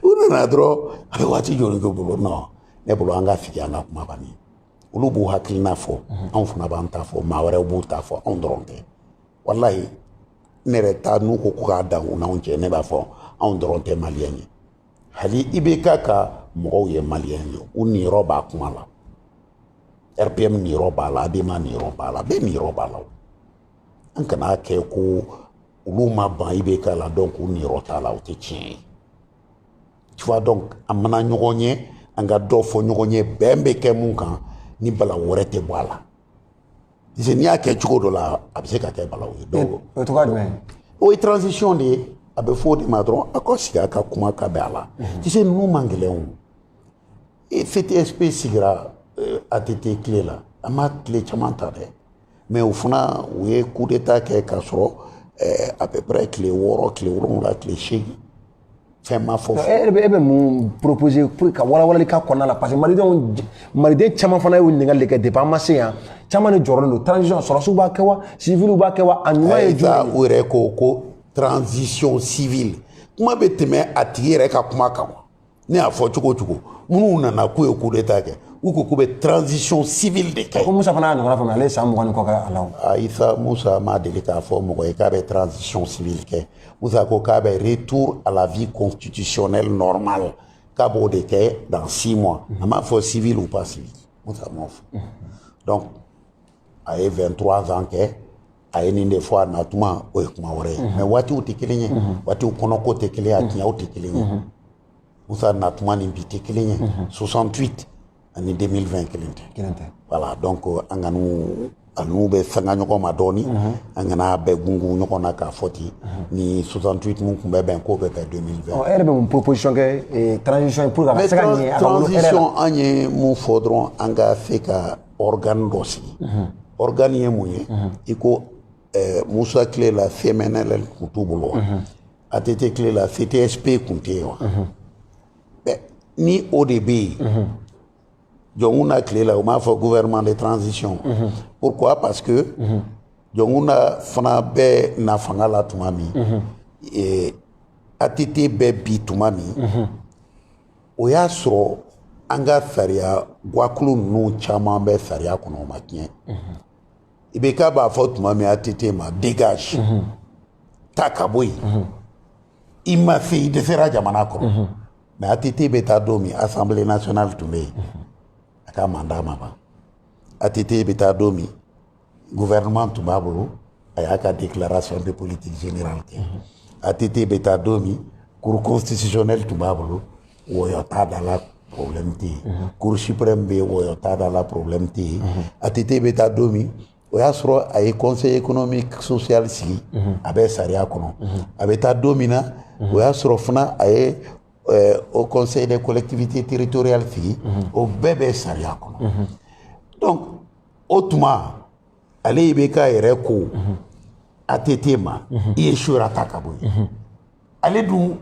u nana dɔrɔn a bɛ waati joli k'u bolo non ne bolo an ka sigi an ka kuma banni olu b'u hakilina fɔ anw fana b'an ta fɔ maa wɛrɛw b'u ta fɔ anw dɔrɔn tɛ walayi ne yɛrɛ ta n'u ko ko k'a dan u n'anw cɛ ne b'a fɔ anw dɔrɔn tɛ maliyɛn ye hali ibk ka mɔgɔw ye maliyɛn ye u niyɔrɔ b'a kuma la rpm niyɔrɔ b'a la adema niyɔrɔ b'a la bɛɛ niyɔrɔ b'a la o an kana kɛ ko olu ma ban ibk la donc u niyɔrɔ t'a la o tɛ tiɲɛ ye tu vois donc an mana ɲɔgɔn ye an ka dɔ fɔ ɲɔgɔn ye bɛn bɛ kɛ mun kan ni bala wɛrɛ tɛ bɔ a la parce que n'i y'a kɛ cogo dɔ la a bɛ se ka kɛ balaw ye donc o cogoya jumɛn o ye transition de ye a bɛ fɔ o de ma dɔrɔn a ka sigi a ka kuma ka bɛn a la tu sais ninnu man gɛlɛn o e ctsp sigira eh, att tile la a ma tile caman ta dɛ mais o fana u ye coup d'état kɛ k'a sɔrɔ eh, à peu près tile wɔɔrɔ tile wolonwula tile seegin fɛn ma fɔ e yɛrɛ bɛ e bɛ mun proposer pour ka walawalali k'a kɔnɔna la parce que malidenw maliden caman fana y'o ɲininkali de kɛ depuis an ma se yan caman de jɔrɔlen don transition sɔrɔsiw b'a kɛ wa civiliw b'a kɛ wa a ɲuman ye jumɛn ye u yɛrɛ ko ko transition civile kuma bɛ tɛmɛ a tigi yɛrɛ ka kuma kan wa ne y'a fɔ cogo o cogo minnu nana k'u ye coup d'état kɛ u ko k'u bɛ transition civile de kɛ. ko musa fana y'a ɲɔgɔnna faamuya ale ye san mugan ni kɔ kɛ a la o. ayi sa musa ma deli k'a fɔ mɔgɔ ye k'a bɛ transition civile kɛ. Moussa ko k'a bɛ retour à la vie constitutionnelle normale k'a b'o de kɛ dans six mois a m'a fɔ civil ou pas civil Moussa m'o fɔ donc a ye 23 ans kɛ a ye nin de fɔ a natuma o ye kuma wɛrɛ ye mais waatiw tɛ kelen ye waatiw kɔnɔko tɛ kelen ye a tiɲɛw tɛ kelen ye Moussa natuma ni bi tɛ kelen ye 68 ani 2020 kelen tɛ kelen tɛ voilà donc an ka n'u a n'u bɛɛ sanga ɲɔgɔn ma dɔɔni mhm. an kana bɛɛ gungun ɲɔgɔn na k'a fɔ ten mhm. ni 68 mun tun bɛ bɛn k'o bɛ bɛn 2020 ɔ e yɛrɛ bɛ mun proposition kɛ eh, transition pour que a se ka ɲɛ a ka wolo transition an ye mun fɔ dɔrɔn an ka se ka organe dɔ sigi mhm. organe ye mun ye i ko eh, Musa tile la CMNL tun t'u bolo wa ATT tile la CTSP tun tɛ yen wa ni o de bɛ yen mhm. Jɔnkunda tile la u m'a fɔ gouvernement de transition mhm. pourquoi parce que mhm. Jɔnkunda fana bɛ na fanga la tuma min ATT bɛ bin tuma min o y'a sɔrɔ an ka sariya gwakulu ninnu caman bɛ sariya kɔnɔ o ma tiɲɛ IBK b'a fɔ tuma min ATT ma dégage taa ka bɔ yen i ma se i dɛsɛra jamana kɔrɔ mais ATT bɛ taa don min assemblée nationale tun bɛ yen a ka mandat ma ban ATT bɛ taa don min gouvernement tun b'a bolo a y'a ka déclaration de politique générale kɛ ATT bɛ taa don min cour constitutionnelle tun b'a bolo wɔyɔ t'a da la problème tɛ yen mhm. cour suprême bɛ wɔyɔ t'a da la problème tɛ yen mhm. ATT bɛ taa don min o y'a sɔrɔ a ye conseil économique social sigi mhm. a bɛ sariya kɔnɔ a bɛ taa don min na o y'a sɔrɔ fana a ye euh, haut conseil des collectivités territoriales sigi o bɛɛ bɛ sariya kɔnɔ donc o tuma ale IBK yɛrɛ ko ATT ma i échouera taa ka bɔ yen. ale dun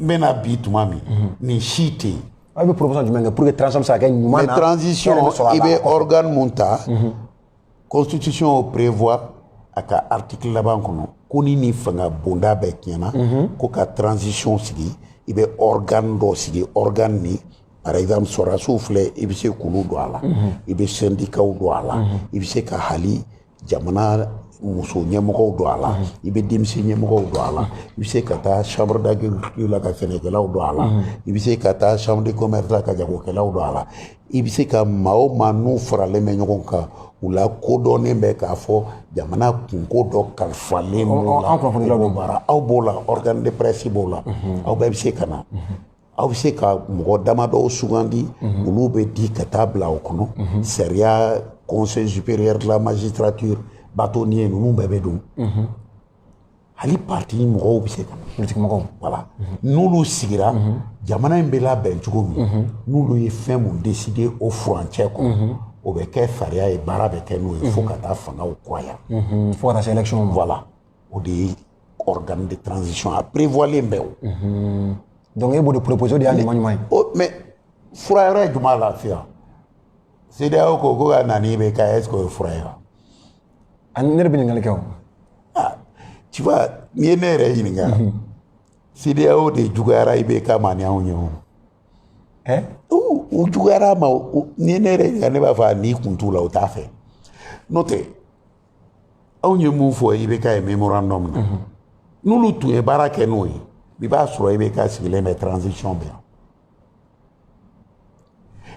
bɛna bin tuma min nin si tɛ yen aw bɛ proposition jumɛn kɛ pour que transition bɛ se ka kɛ ɲuman na transition i bɛ organe mun ta constitution o prévoit a ka article laban kɔnɔ ko ni nin fanga bonda bɛɛ tiɲɛna ko ka transition sigi i bɛ organe dɔ sigi organe nin par exemple sɔrɔdasiw filɛ i bɛ se k'olu don a la i bɛ sɛndikaw don a la i bɛ se ka hali jamana muso ɲɛmɔgɔw don a la i bɛ denmisɛn ɲɛmɔgɔw don a la i bɛ se ka taa chambre d'agriculture la ka sɛnɛkɛlaw don a la i bɛ se ka taa chambre de commerce la ka jagokɛlaw don a la i bɛ se ka maa o maa n'u faralen bɛ ɲɔgɔn kan u lakodɔnnen bɛ k'a fɔ jamana kunko dɔ kalifalen b'u la aw b'o la organe de presse b'o la aw bɛɛ bɛ se ka na aw bɛ se ka mɔgɔ damadɔw sugandi mhm. olu bɛ di ka taa bila o kɔnɔ mhm. sariya conseil supérieur de la magistrature bâtonnier ninnu bɛɛ bɛ don mhm. hali parti mɔgɔw bɛ se ka politique mɔgɔw voilà n'olu sigira jamana in bɛ labɛn cogo min n'olu ye fɛn min décider o furancɛ kɔnɔ o bɛ kɛ sariya ye baara bɛ kɛ n'o ye fo ka taa fangaw kuraya fo ka taa se élection ma voilà o de ye organe de transition a prévoilen bɛ o mhm. donc e b'o de proposer o de y'a ɲuman ɲuman ye mais fura yɛrɛ ye jumɛn lafiya CEDEAO ko ko ka na n'IBK est ce que o ye fura ye wa ani ne yɛrɛ bɛ ɲininkali kɛ o ah tu vois n'i ye ne yɛrɛ ɲininka mhm. CEDEAO de juguyara IBK ma ni anw ye o ɛ u juguyara a ma n'i ye ne yɛrɛ ɲininka ne b'a fɔ n'i kun t'u la u t'a fɛ n'o tɛ anw ye mun fɔ IBK ye memorandum na n'olu tun ye baara kɛ n'o ye i b'a sɔrɔ IBK sigilen bɛ transition bɛ yan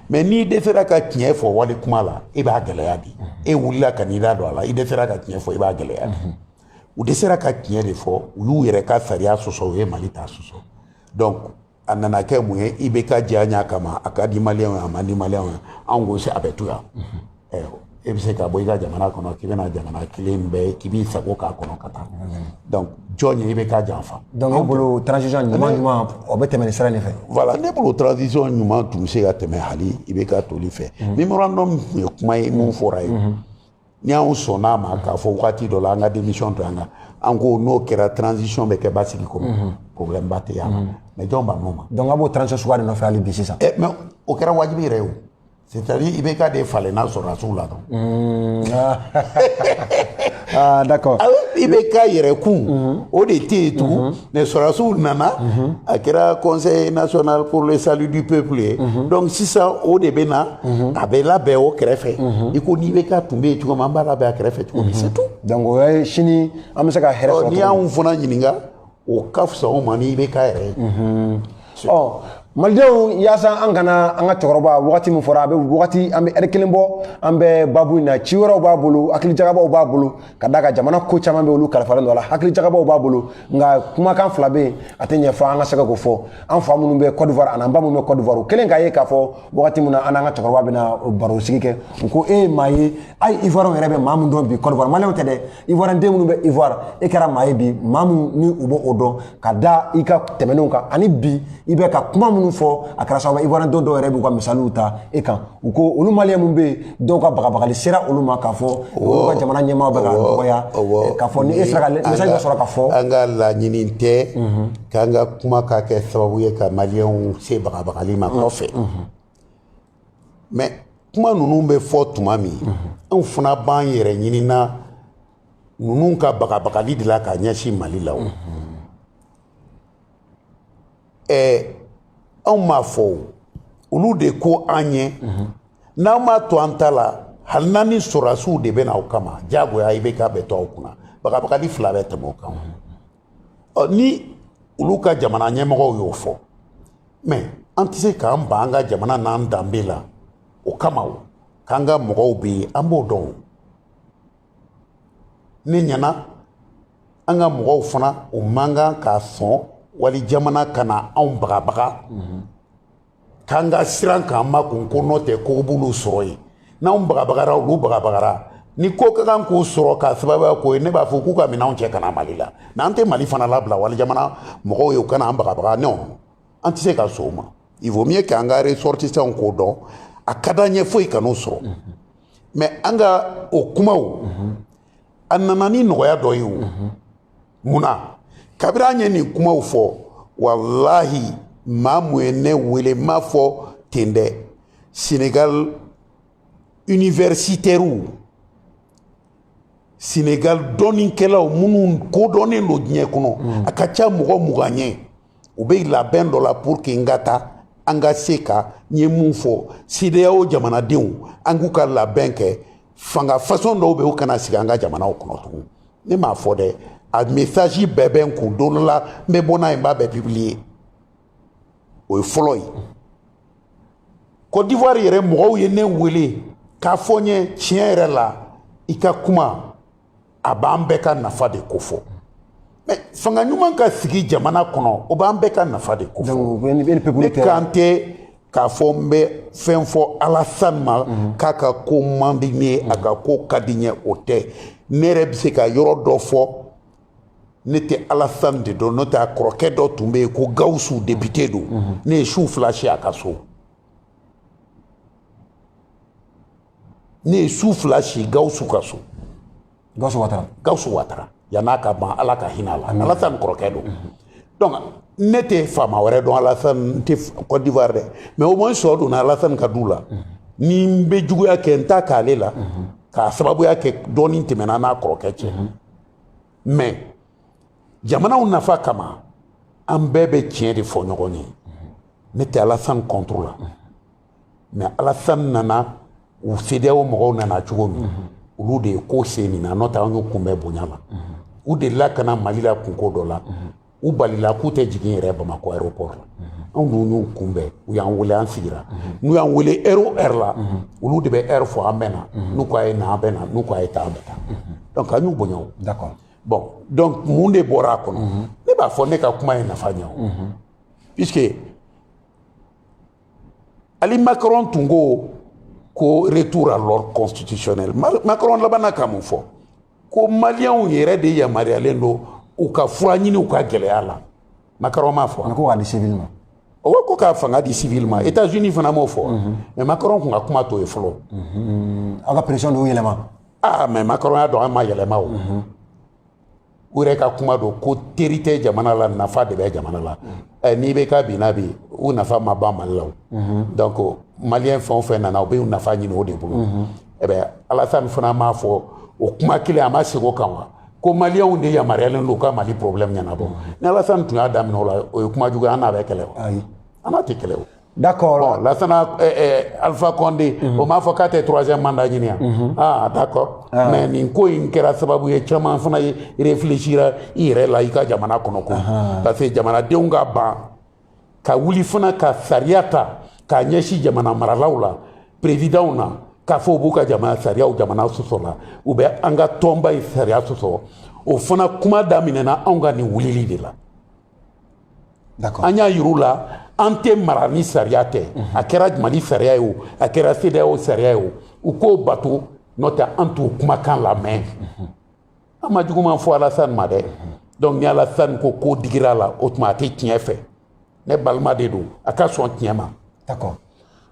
mais n'i dɛsɛra ka tiɲɛ fɔ wali kuma la i b'a gɛlɛya di e wulila ka n'i da don a la i dɛsɛra ka tiɲɛ fɔ i b'a gɛlɛya di u dɛsɛra ka tiɲɛ de fɔ u y'u yɛrɛ ka sariya sɔsɔ u ye mali ta sɔsɔ donc a nana kɛ mun ye IBK diyanye kama a ka di maliyɛnw ye a man di maliyɛnw ye anw ko se a bɛ to yan e bɛ se ka bɔ i ka jamana kɔnɔ k'i bɛna jamana kelen bɛɛ k'i b'i sago k'a kɔnɔ ka taa donc jɔn ye IBK janfa donc ne bolo transition ɲuman ɲuman o bɛ tɛmɛ nin sira nin fɛ voilà ne bolo transition ɲuman tun bɛ se ka tɛmɛ hali IBK toli fɛ memorandum tun ye kuma ye min fɔra ye ni anw sɔnna a ma k'a fɔ wagati dɔ la an ka démission to yan ka an ko n'o kɛra transition bɛ kɛ basigi kɔnɔ mhm. problème ba tɛ yan mhm. mais jɔn bann'o ma donc a b'o transition suguya de nɔfɛ hali bi sisan eh, mais o kɛra wajibi yɛrɛ ye o c'est à dire IBK de falenna sɔrɔdasiw la dɔrɔn mhm. ah. ah d'accord ah IBK yɛrɛ kun o de tɛ yen tugun mais sɔrɔdasiw nana mhm. a kɛra conseil national pour le salut du peuple ye mhm. donc sisan o de bɛ na mhm. a bɛ labɛn o kɛrɛfɛ i ko n'IBK tun bɛ yen cogo min an b'a labɛn a kɛrɛfɛ cogo min c'est tout donc o ye sini an bɛ se ka hɛrɛ sɔrɔ n'i y'anw fana ɲininka o ka fisa anw ma n'IBK yɛrɛ ye ɔ malidenw yaasa an kana an ka cɛkɔrɔba wagati min fɔra a bɛ wagati an bɛ ɛri kelen bɔ an bɛ babu in na ci wɛrɛw b'a bolo hakilijagabaw b'a bolo ka d'a kan jamana ko caman bɛ olu kalifalen don a la hakilijagabaw b'a bolo nka kumakan fila bɛ yen a tɛ ɲɛ fo an ka se ka k'o fɔ an fa minnu bɛ cote d'ivoire an'an ba minnu bɛ cote d'ivoire u kɛlen k'a ye k'a fɔ wagati min na an n'an ka cɛkɔrɔba bɛna baro sigi kɛ u ko e ye maa ye a ye ivoirienw yɛrɛ bɛ maa min dɔn bi cote d'ivoire maliyɛnw tɛ dɛ ivoirien den minnu bɛ ivoire e kɛra maa ye bi maa min ni u b'o dɔn ka da i ka tɛmɛnenw kan ani bi i bɛ ka kuma minnu fɔ a kɛra sababu ivoirien dɔw dɔw yɛrɛ b'u ka misaliw ta e kan u ko olu maliyɛn minnu bɛ yen dɔw ka bagabagali sera olu ma k'a fɔ olu ka jamana ɲɛmaaw bɛ ka dɔgɔya k'a fɔ ni e sera ka message dɔ sɔrɔ k'a fɔ an ka laɲini tɛ k'an ka kuma ka kɛ sababu ye ka maliyɛnw se bagabagali ma kɔfɛ mais kuma ninnu bɛ fɔ tuma min anw fana b'an yɛrɛ ɲininka ninnu ka bagabagali de la ka ɲɛsin mali la o ɛɛ anw m'a fɔ o olu de ko an ye n'an m'a to an ta la hali n'an ni sɔrɔdasiw de bɛ na o kama diyagoya IBK bɛ to aw kunna bagabagali fila bɛ tɛmɛ o kan ɔ ni olu ka jamana ɲɛmɔgɔw y'o fɔ mais an tɛ se k'an ban an ka jamana n'an danbe la o kama o k'an ka mɔgɔw bɛ yen an b'o dɔn ne ɲɛna an ka mɔgɔw fana u man kan ka sɔn wali jamana ka na anw bagabaga k'an ka siran k'an makun ko n'o tɛ ko b'olu sɔrɔ yen n'anw bagabagara olu bagabagara ni ko ka kan k'u sɔrɔ k'a sababuya k'o ye ne b'a fɔ k'u ka minɛnw cɛ ka na mali la n'an tɛ mali fana labila wali jamana mɔgɔw ye u kana an bagabaga non an tɛ se ka sɔn o ma il vaut mieux k'an ka ressortissants k'o dɔn a ka d'an ye foyi kan'o sɔrɔ mais an ka o kumaw a nana ni nɔgɔya dɔ ye o mun na kabiri an ye nin kumaw fɔ walahi maa mun ye ne wele n m'a fɔ ten dɛ senegal universitaires senegal dɔnnikɛlaw minnu kodɔnnen don diɲɛ kɔnɔ mm. a ka ca mɔgɔ mugan ye u bɛ labɛn dɔ la pour que n ka taa an ka se ka n ye mun fɔ CEDEAO jamanadenw an k'u ka labɛn kɛ fanga façon dɔw bɛ u kana sigi an ka jamanaw kɔnɔ tugun ne m'a fɔ dɛ a message bɛɛ bɛ n kun don dɔ la n bɛ bɔ n'a ye n b'a bɛɛ publier o ye fɔlɔ ye Côte d'Ivoire yɛrɛ mɔgɔw ye ne wele k'a fɔ n ye tiɲɛ yɛrɛ la i ka kuma a b'an bɛɛ ka nafa de ko fɔ mais fanga ɲuman ka sigi jamana kɔnɔ o b'an bɛɛ ka nafa de ko fɔ ne kan tɛ k'a fɔ n bɛ fɛn fɔ alasan ma mhm. k'a ka ko man di n ye a ka ko ka di n ye o tɛ ne yɛrɛ bɛ se ka yɔrɔ dɔ fɔ ne tɛ alasan de dɔn n'o tɛ a kɔrɔkɛ dɔ tun bɛ yen ko gawusu depite don mhm. ne ye su fila si a ka so ne ye su fila si gawusu ka so gawusu watara yan'a ka ban ala ka hinɛ a la alasan kɔrɔkɛ don mhm. donc ne tɛ faama wɛrɛ dɔn alasan n tɛ Côte d'ivoire dɛ mais au moins sɔ donna alasan ka du la mhm. ni n bɛ juguya kɛ n t'a k'ale la k'a sababuya kɛ dɔnni tɛmɛna n'a kɔrɔkɛ cɛ mais jamanaw nafa kama an bɛɛ bɛ tiɲɛ de fɔ ɲɔgɔn ye ne tɛ alasan contre la mais alasan nana u CEDEAO mɔgɔw nana cogo min olu de ye ko se nin na n'o tɛ an y'u kunbɛn bonya la u delila ka na mali la kunko dɔ la u balila k'u tɛ jigin yɛrɛ bamakɔ aéroport la anw dun y'u kunbɛn u y'an wele an sigira n'u y'an wele heure o heure la olu de bɛ heure fɔ an bɛ na n'u ko a ye na an bɛ na n'u ko a ye taa an bɛ taa donc an y'u bonya o d'accord bon donc mun de bɔra a kɔnɔ ne b'a fɔ ne ka kuma ye nafa ɲɛ o puisque hali macron tun ko ko retour à l'ordre constitutionnel macron labanna ka mun fɔ ko maliyɛnw yɛrɛ de yamaruyalen don u ka fura ɲini u ka gɛlɛya la macron m'a fɔ ko k'a di sivili ma o ko ka fanga di sivili ma etats unis fana m'o fɔ mais macron kun ka kuma t'o ye fɔlɔ aw ka pression de y'u yɛlɛma aa mais macron y'a dɔn an ma yɛlɛma o u yɛrɛ ka kuma don ko teri tɛ jamana la nafa de bɛ jamana la eh, n'i bɛ ka bi n'a bi u nafa ma ban mali la o donc maliyɛn fɛn o fɛn nana u bɛ u nafa ɲini o de bolo eh ben alasani fana m'a fɔ o kuma kelen a ma segin o kan wa ko maliyɛnw de yamaruyalen don u ka mali problème ɲɛnabɔ ni alasani tun y'a daminɛ o la o ye kuma jugu ye an n'a bɛ kɛlɛ wa ayi an n'a tɛ kɛlɛ o D'accord. Bon, Lassana, euh, euh, Alpha Condé, mm -hmm. o m'a fɔ k'a tɛ troisième mandat ɲini yan. Mm -hmm. Ah, d'accord. Ah. Mais nin ko in kɛra sababu ye caman fana ye réfléchira i yɛrɛ la i ka jamana kɔnɔ ko. Ah. Parce que jamanadenw ka ban ka wuli fana ka sariya ta k'a ɲɛsin jamana maralaw la perezidanw na k'a fɔ u b'u ka jamana sariyaw jamana sɔsɔ la u bɛ an ka tɔnba ye sariya sɔsɔ o fana kuma daminɛna anw ka nin wulili de la an y'a yir'u la an tɛ mara ni sariya tɛ a kɛra mali sariya ye o a kɛra CEDEAO sariya ye o u k'o bato n'o tɛ an t'u kumakan lamɛn an ma juguman fɔ alasan ma dɛ donc ni alasan ko k'o digir'a la o tuma a tɛ tiɲɛ fɛ ne balima de don a ka sɔn tiɲɛ ma d'accord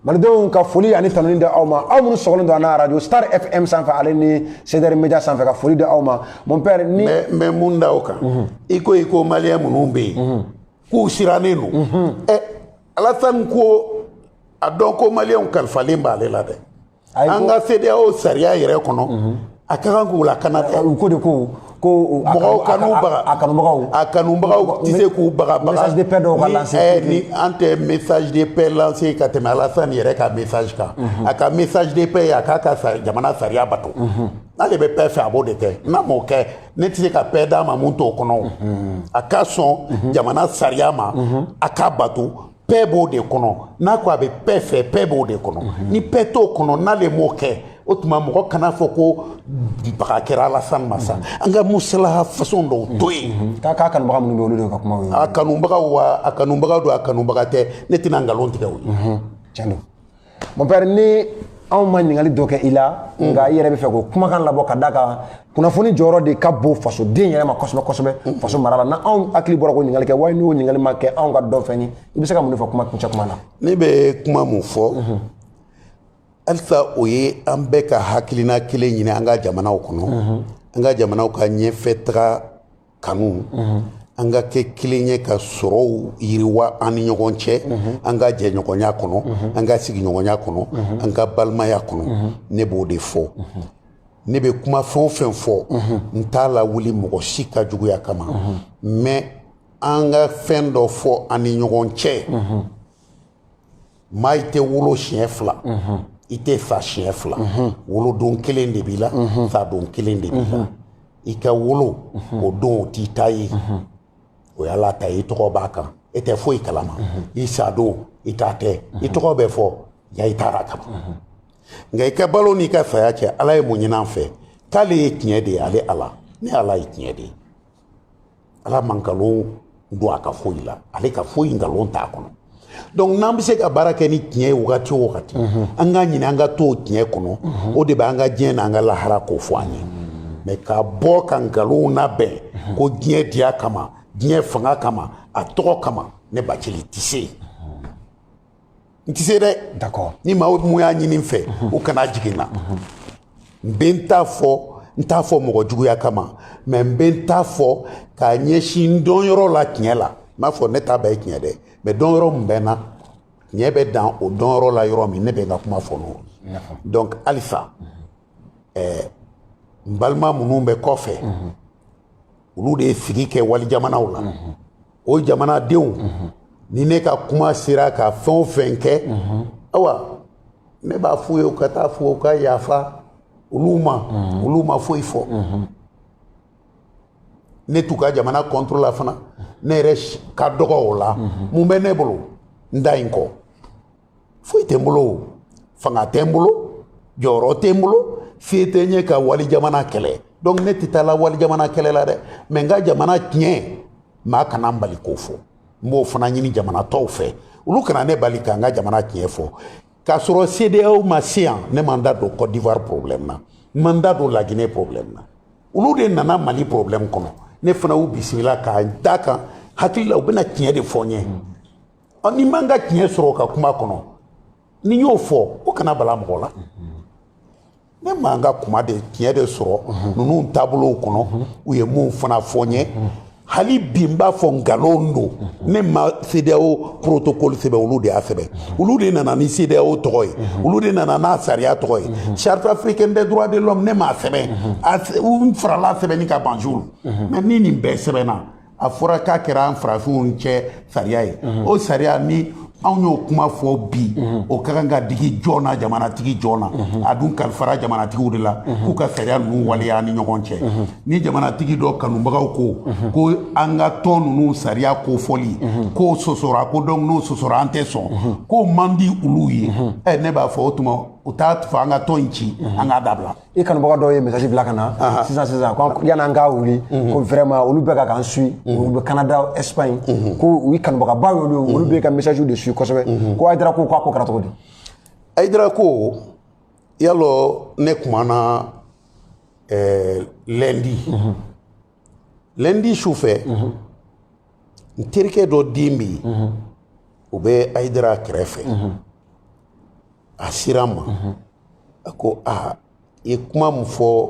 malidenw ka foli ani tanuni di aw ma aw minnu sɔgɔlen don an na radio star fm sanfɛ ale ni cdr media sanfɛ ka foli di aw ma mon père ni n bɛ mun da o kan mhm. i ko i ko maliyɛn minnu bɛ yen mhm. k'u sirannen don mhm. ɛ alasan ko a dɔn ko maliyɛnw kalifalen b'ale la dɛ an ka CEDEAO sariya yɛrɛ kɔnɔ a ka kan k'u lakana dɛ u ko de ko ko mɔgɔw kanu baga a kanubagaw a kanubagaw tɛ se k'u bagabaga message de paix dɔw ka lancer eh, ni an tɛ message de paix lancer ka tɛmɛ Alassane yɛrɛ ka message kan a ka message de paix ye a k'a ka jamana sariya bato n'ale bɛ paix fɛ a b'o de kɛ n'a m'o kɛ ne tɛ se ka paix d'a ma mun t'o kɔnɔ a ka sɔn jamana sariya ma a k'a bato paix b'o de kɔnɔ n'a ko a bɛ paix fɛ paix b'o de kɔnɔ mhm. ni paix t'o kɔnɔ n'ale m'o kɛ o tuma mɔgɔ kan'a fɔ ko baga kɛra alasan ma sa mhm. an ka musalaha façon dɔw to yen mhm. k'a k'a kanubaga minnu bɛ olu de ka kuma ye a kanubagaw wa a kanubaga don a kanubaga tɛ ne tɛna nkalon tigɛ o ye tiɲɛ don Mon père ni anw ma ɲininkali dɔ kɛ i la nka i yɛrɛ bɛ fɛ k'o kumakan labɔ ka d'a kan kunnafoni jɔyɔrɔ de ka bon fasoden yɛrɛ ma kosɛbɛ kosɛbɛ faso mara la na anw hakili bɔra k'o ɲininkali kɛ wali n'o ɲininkali ma kɛ anw ka dɔn fɛn ye i bɛ se ka mun de fɔ kuma kuncɛ kuma na ne bɛ kuma mun fɔ halisa o ye an bɛɛ ka hakilina kelen ɲini an ka jamanaw kɔnɔ an ka jamanaw ka ɲɛfɛ taga kanu an ka kɛ kelen ye ka sɔrɔw yiriwa an ni ɲɔgɔn cɛ an ka jɛɲɔgɔnya kɔnɔ an ka sigiɲɔgɔnya kɔnɔ an ka balimaya kɔnɔ ne b'o de fɔ ne bɛ kuma fɛn o fɛn fɔ n t'a lawuli mɔgɔ si ka juguya kama mais an ka fɛn dɔ fɔ an ni ɲɔgɔn cɛ maa i tɛ wolo siɲɛ fila i tɛ sa siɲɛ fila wolodon kelen de b'i la sadon kelen de b'i la i ka wolo o don o t'i ta ye o y'ala ta ye i tɔgɔ b'a kan e tɛ foyi kalama i sadon i ta tɛ i tɔgɔ bɛ fɔ ya i taara kama nka i ka balo n'i ka saya cɛ ala ye mun ɲini an fɛ k'ale ye tiɲɛ de ye ale ala ne ala ye tiɲɛ de ye ala ma nkalon don a ka foyi la ale ka foyi nkalon t'a kɔnɔ donc n'an bɛ se ka baara kɛ ni tiɲɛ ye wagati o wagati mhm. an k'a ɲini an ka to o tiɲɛ kɔnɔ mhm. o de bɛ an ka diɲɛ n'an ka lahara ko fɔ an ye mais ka bɔ ka nkalonw labɛn mhm. ko diɲɛ diya kama diɲɛ fanga kama a tɔgɔ kama ne bacili tɛ se yen n tɛ se dɛ d'accord ni maa mun y'a ɲini n fɛ o kana jigin n na n bɛ n ta fɔ n t'a fɔ mɔgɔ juguya kama mais n bɛ n ta fɔ k'a ɲɛsin n dɔnyɔrɔ la tiɲɛ la n m'a fɔ ne ta bɛɛ ye tiɲɛ dɛ mais dɔnyɔrɔ min bɛ n na tiɲɛ bɛ dan o dɔnyɔrɔ la yɔrɔ min ne bɛ n ka kuma fɔ n'o donc halisa ɛɛ n balima minnu bɛ kɔfɛ olu de ye sigi kɛ wali jamanaw la o jamanadenw ni ne ka kuma sera ka fɛn o fɛn kɛ awa ne b'a f'u ye u ka taa fɔ u ka yafa olu ma olu ma foyi fɔ ne t'u ka jamana contre la fana ne yɛrɛ ka dɔgɔ o la mun bɛ ne bolo n da in kɔ foyi tɛ n bolo fanga tɛ n bolo jɔyɔrɔ tɛ n bolo se tɛ n ye ka wali jamana kɛlɛ donc ne tɛ taa la wali jamana kɛlɛ la dɛ mais n ka jamana tiɲɛ maa kana n bali k'o fɔ n b'o fana ɲini jamana tɔw fɛ olu kana ne bali ka n ka jamana tiɲɛ fɔ k'a sɔrɔ CEDEAO ma se yan ne ma n da don côte d'ivoire problème na n ma n da don laginɛ problème na olu de nana mali problème kɔnɔ ne fana y'u bisimila k'a da kan n hakili la u bɛna tiɲɛ de fɔ n ye ɔ ne ma n ka tiɲɛ sɔrɔ ka kuma kɔnɔ ni n y'o fɔ o kana bala mɔgɔ la ne ma n ka kuma de tiɲɛ de sɔrɔ ninnu taabolow kɔnɔ u ye mun fana fɔ n ye hali bi n b'a fɔ nkalon don ne ma CEDEAO protocole sɛbɛn olu de y'a sɛbɛn olu de nana ni CEDEAO tɔgɔ ye olu de nana n'a sariya tɔgɔ ye charte africaine des droits de l'homme ne m'a sɛbɛn u farala sɛbɛnni kan Banjul mais ni nin bɛɛ sɛbɛnna a fɔra k'a kɛra an farafinw cɛ sariya ye o sariya ni anw y'o kuma fɔ bi o ka kan ka digi jɔn na jamanatigi jɔn na a dun kalifara jamanatigiw de la k'u ka sariya ninnu waleya ni ɲɔgɔn cɛ ni jamanatigi dɔ kanubagaw ko ko an ka tɔn ninnu sariya ko fɔli k'o sɔsɔra ko donc n'o sɔsɔra an tɛ sɔn k'o man di olu ye ne b'a fɔ o tuma u t'a fɔ an ka tɔn in ci an k'a dabila i kanubaga dɔw ye message bila ka na sisan sisan ko yani an ka wuli mhm. ko vraiment olu bɛ ka k'an suit mhm. olu bɛ Canada Espagne mhm. ko i kanubagaba y'olu ye olu bɛ ka message de suit kosɛbɛ ko Haidara ko k'a ko kɛra cogo di Haidara ko y'a lɔn ne kumana eh, lundi lɛndi su fɛ n terikɛ dɔ den bɛ yen o bɛ ayidara kɛrɛfɛ a sera n ma a ko aa i ye kuma min fɔ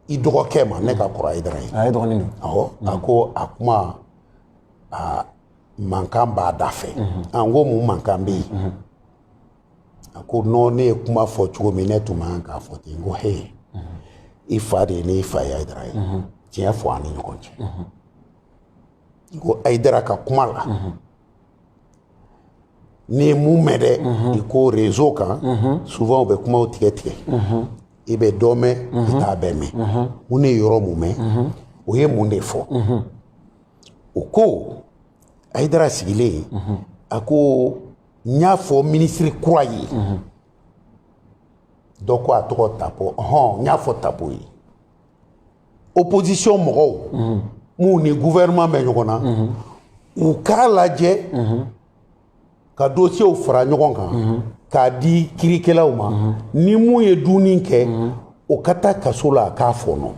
i dɔgɔkɛ ma ne ka kɔrɔ ayidara ye a ye dɔgɔnin don awɔ a ko a kuma a mankan b'a da fɛ n ko mun mankan bɛ yen a ko nɔn ne ye kuma fɔ cogo min ne tun man k'a fɔ ten n ko he i fa de ye ne fa ye ayidara ye tiɲɛ fɔ an ni ɲɔgɔn cɛ n ko ayidara ka kuma la n'i ye mun mɛn dɛ i ko rezo kan souvent u bɛ kumaw tigɛ tigɛ i bɛ dɔ mɛn i t'a bɛɛ mɛn mun ne ye yɔrɔ mun mɛn o ye mun de fɔ o ko ayidara sigilen a ko n y'a fɔ minisiri kura ye dɔ ko a tɔgɔ Tapo hɔn n y'a fɔ Tapo ye opposition mɔgɔw minnu ni gouvernement bɛ ɲɔgɔn na u k'a lajɛ ka dosiyew fara ɲɔgɔn kan k'a di kiirikɛlaw ma ni mun ye dunni kɛ o ka taa kaso la a k'a fɔɔnɔ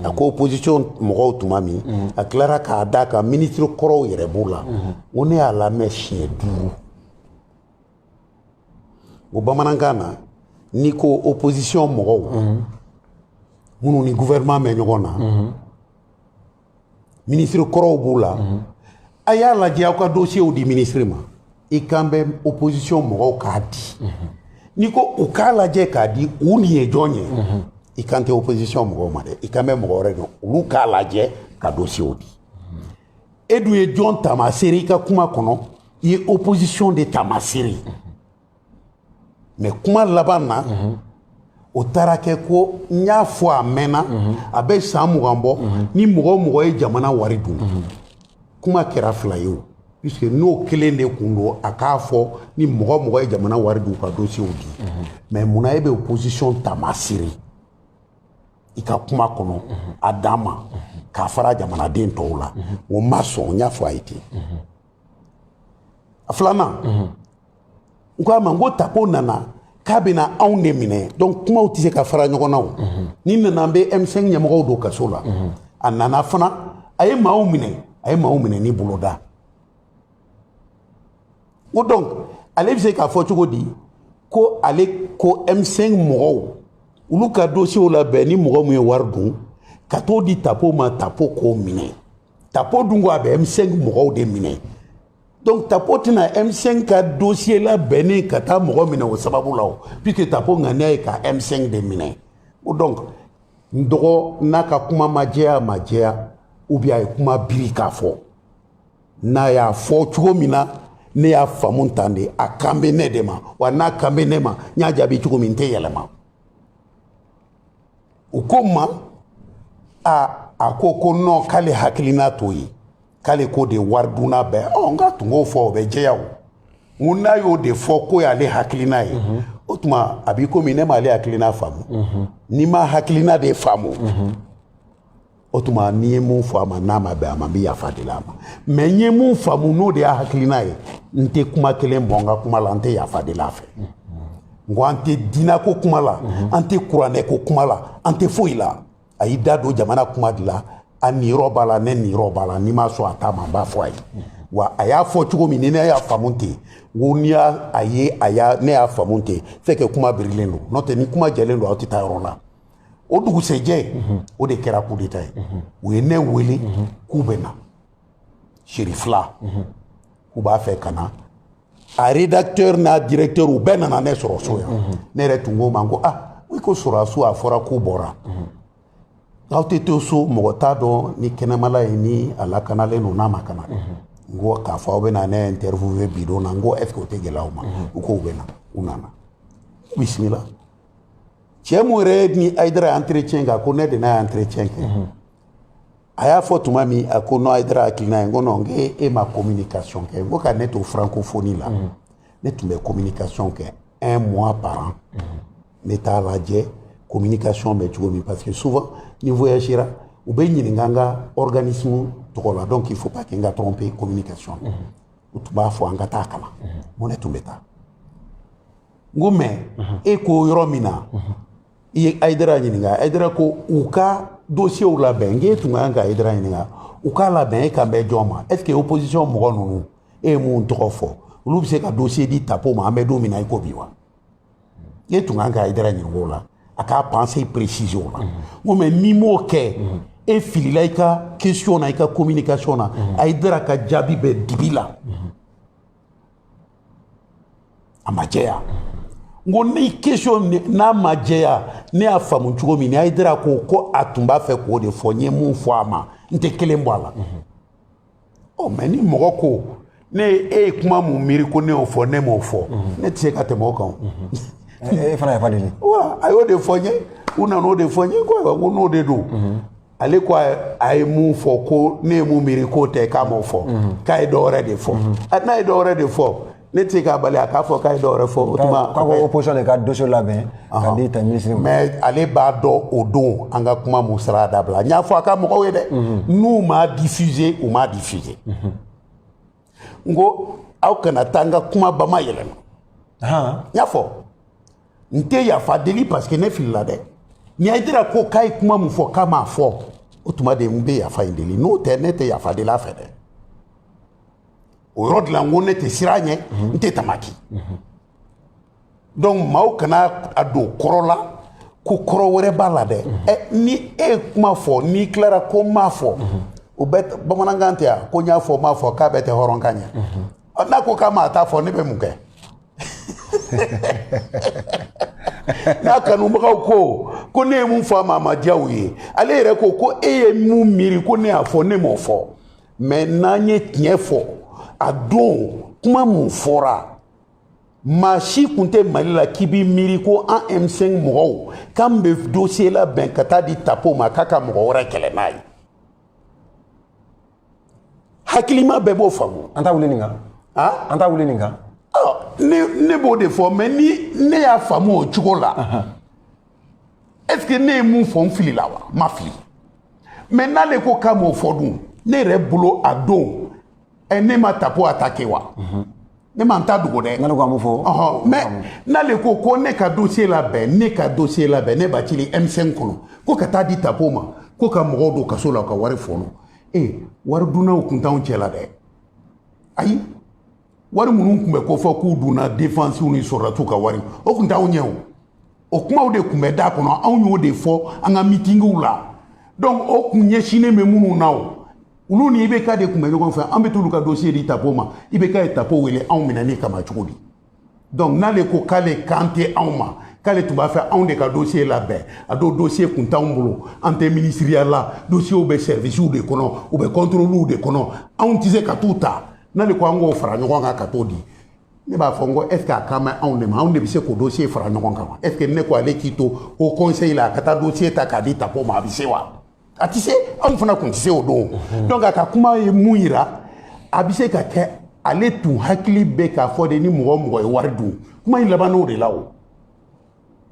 a ko opposition mɔgɔw tuma min a tilara k'a d'a kan minisiri kɔrɔw yɛrɛ b'o la ko ne y'a lamɛn siɲɛ duuru o bamanankan na n'i ko opposition mɔgɔw minnu ni gouvernement bɛ ɲɔgɔn na minisiri kɔrɔw b'u la mhm. a y'a lajɛ aw ka dosiyew di minisiri ma i kan bɛ opposition mɔgɔw k'a di mhm. n'i ko u k'a lajɛ k'a di u nin ye jɔn ye mhm. i kan tɛ opposition mɔgɔw ma dɛ i kan bɛ mɔgɔ wɛrɛ dɔn olu k'a lajɛ ka dosiyew di e dun ye jɔn taamasere i ka kuma kɔnɔ i ye opposition de taamasere mais kuma laban na o taara kɛ ko n y'a fɔ a mɛnna a bɛ san mugan bɔ ni mɔgɔ o mɔgɔ ye jamana wari dun kuma kɛra fila ye o puisque n'o kelen de kun don a k'a fɔ ni mɔgɔ o mɔgɔ ye jamana wari dun ka dosiyew di mais munna e bɛ opposition taamasere i ka kuma kɔnɔ a dan ma k'a fara jamanaden tɔw la o ma sɔn n y'a fɔ a ye ten a filanan n ko a ma n ko tapo nana k'a bɛna anw de minɛ donc kumaw tɛ se ka fara ɲɔgɔn na o ni n nana n bɛ M5 ɲɛmɔgɔw don kaso la a nana fana a ye maaw minɛ a ye maaw minɛ ni boloda o donc ale bɛ se k'a fɔ cogo di ko ale ko M5 mɔgɔw olu ka dosiyew labɛn ni mɔgɔ min ye wari dun ka t'o di tapo ma tapo k'o minɛ tapo dun ko a bɛ M5 mɔgɔw de minɛ donc tapo tɛna m5 ka dossier labɛnnen ka taa mɔgɔ minɛ o sababu la o puisque tapo ŋaniya ye ka m5 de minɛ o donc n dɔgɔ n'a ka kuma ma jɛya ma jɛya ou bien a ye kuma biri k'a fɔ n'a y'a fɔ cogo min na ne y'a faamu tan de a kan bɛ ne de ma wa n'a kan bɛ ne ma n y'a jaabi cogo min n tɛ yɛlɛma u ko n ma a a ko ko non k'ale hakilina t'o ye k'ale ko de waridunna bɛɛ ɔ n k'a tun k'o fɔ o bɛ jɛya o n ko n'a y'o de fɔ k'o y'ale hakilina ye mhm. o tuma a b'i komi ne m'ale hakilina faamu mhm. ni n m'a hakilina de faamu mhm. o tuma ni n ye mun fɔ a ma n'a ma bɛn a ma n bɛ yafa deli a ma mais n ye mun faamu n'o de y'a hakilina ye n tɛ kuma kelen bɔ n ka kuma la n tɛ yafa deli a fɛ n ko an tɛ diinako kuma la an tɛ kuranɛko kuma la an tɛ foyi la a y'i da don jamana kuma de la a niyɔrɔ b'a la ne niyɔrɔ b'a la ni n ma sɔn a ta ma n b'a fɔ a ye wa a y'a fɔ cogo min ni ne y'a faamu ten n ko n'i y'a a ye a y'a ne y'a faamu ten fɛn kɛ kuma birilen don n'o tɛ ni kuma jɛlen don aw tɛ taa yɔrɔ la o dugusɛjɛ o de kɛra coup d'état ye u ye ne wele k'u bɛ na seri fila k'u b'a fɛ ka na a rédacteur n'a directeur u bɛɛ nana ne sɔrɔ so yan ne yɛrɛ tun ko u ma n ko ah i ko sɔrɔdasiw a fɔra k'u bɔra aw tɛ to so mɔgɔ t'a dɔn ni kɛnɛma la yen ni a lakanalen don n'a ma lakana n ko k'a fɔ aw bɛna ne interviewe bi don na n ko est ce que o tɛ gɛlɛya aw ma u ko u bɛ na u nana bisimila cɛ mun yɛrɛ ni hayidara ye entretien kɛ a ko ne de n'a ye entretien kɛ a y'a fɔ tuma min a ko non ayidara hakilina ye n ko non n k'e e ma communication kɛ n ko ka ne to francophonie la mm. ne tun bɛ communication kɛ un mois par an mm. ne t'a lajɛ communication bɛ cogo min parce que souvent ni voyagera u bɛ ɲininka an ka organisme tɔgɔ la donc il faut pas que n ka tromper communication mm. u tun b'a fɔ an ka taa kalan n ko ne tun bɛ taa n ko mais e ko yɔrɔ min na i ye ayidara ɲininka ayidara ko u ka dossierw labɛn n k'e tun ka kan ka ayidara ɲininka u k'a labɛn e kan bɛ jɔn ma est ce que opposition mɔgɔ ninnu e ye mun tɔgɔ fɔ olu bɛ se ka dossier di tapo ma an bɛ don min na i ko bi wa e tun ka kan ka ayidara ɲininka o la a k'a pensée préciser o la n ko mais n'i m'o kɛ e filila i ka question na i ka communication na ayidara ka jaabi bɛ dibi la a ma jɛya n ko ni question n'a ma jɛya ne y'a faamu cogo min ayidara ko ko a tun b'a fɛ k'o de fɔ n ye mun fɔ a ma n tɛ kelen bɔ a la ɔ mais ni mɔgɔ ko ne e ye kuma mun miiri ko ne y'o fɔ ne m'o fɔ ne tɛ se ka tɛmɛ o kan e fana yafa deli wa a y'o de fɔ n ye u nana o de fɔ n ye ko ayiwa ko n'o de don ale ko a ye mun fɔ ko ne ye mun miiri k'o tɛ k'a m'o fɔ mhm. k'a ye dɔwɛrɛ de fɔ mhm. n'a ye dɔwɛrɛ de fɔ ne tɛ se k'a bali a k'a fɔ k'a ye dɔwɛrɛ fɔ o tuma k'a ko opposition de ka dossier labɛn ka di ta minisiri ma mais ale b'a dɔn o don an ka kuma mun sara dabila n y'a fɔ a ka mɔgɔw ye dɛ mhm. n'u m'a diffuser u m'a diffuser n ko aw kana taa n ka kuma bamayɛlɛma n y'a fɔ n tɛ yafa deli parce que ne filila dɛ ni ayidara ko k'a ye kuma mun fɔ k'a m'a fɔ o tuma de n bɛ yafa in deli n'o tɛ ne tɛ yafa deli a fɛ dɛ o yɔrɔ de la n ko ne tɛ siran a ɲɛ n tɛ tamaki donc maaw kana a don kɔrɔ la ko kɔrɔ wɛrɛ b'a la dɛ ɛ ni e ye kuma fɔ n'i tilara ko n m'a fɔ o bɛ bamanankan tɛ yan ko n y'a fɔ n m'a fɔ k'a bɛɛ tɛ hɔrɔnkan ye n'a ko k'a m'a ta fɔ ne bɛ mun kɛ n'a kanubagaw ko ko ne ye mun fɔ a ma a ma diya u ye ale yɛrɛ ko ko e ye mun miiri ko ne y'a fɔ ne m'o fɔ mais n'an ye tiɲɛ fɔ a don kuma mun fɔra maa si kun tɛ mali la k'i b'i miiri ko an m5 mɔgɔw k'an bɛ dossier labɛn ka taa di tapo ma k'a ka mɔgɔ wɛrɛ kɛlɛ n'a ye hakilima bɛɛ b'o faamu an t'a wuli nin kan an t'a wuli nin kan ne b'o de fɔ mais ni ne y'a faamu o cogo la est ce que ne ye mun fɔ n filila wa n ma fili mais n'ale ko k'a m'o fɔ dun ne yɛrɛ bolo a don ne ma tapo attaquer wa ne ma n ta dogo dɛ n'ale ko an b'o fɔ ɔhɔn mais n'ale ko ko ne ka dossier labɛn ne ka dossier labɛn ne b'a cili m5 kɔnɔ ko ka taa di tapo ma ko ka mɔgɔw don kaso la u ka wari fɔnɔ ee wari dunnaw kun t'anw cɛ la dɛ ayi wari minnu tun bɛ ko fɔ k'u dunna defensiw ni sɔrɔdasiw ka wari o kun t'anw ɲɛ o o kumaw de tun bɛ da kɔnɔ anw y'o de fɔ an ka mitingiw la donc o kun ɲɛsinnen bɛ minnu na o olu ni ibk de tun bɛ ɲɔgɔn fɛ an bɛ t'olu ka dosiye di tapo ma ibk ye tapo wele anw minɛni kama cogo di donc n'ale ko k'ale kan tɛ anw ma k'ale tun b'a fɛ anw de ka dosiye labɛn a don dosiye kun t'anw bolo an tɛ minisiriya la dosiyew bɛ sɛrivisiw de kɔnɔ u bɛ kɔntoroliw de kɔnɔ anw tɛ se ka t'u ta n'ale ko an k'o fara ɲɔgɔn kan ka t'o di ne b'a fɔ n ko est ce que a kan bɛ anw de ma anw de bɛ se k'o dossier fara ɲɔgɔn kan wa est ce que ne ko ale k'i to haut conseil la a ka taa dossier ta k'a di tapo ma a bɛ se wa a tɛ se anw fana tun tɛ se o don donc a ka kuma ye mun yira a bɛ se ka kɛ ale tun hakili bɛ k'a fɔ de ni mɔgɔ o mɔgɔ ye wari dun kuma in labann'o de la o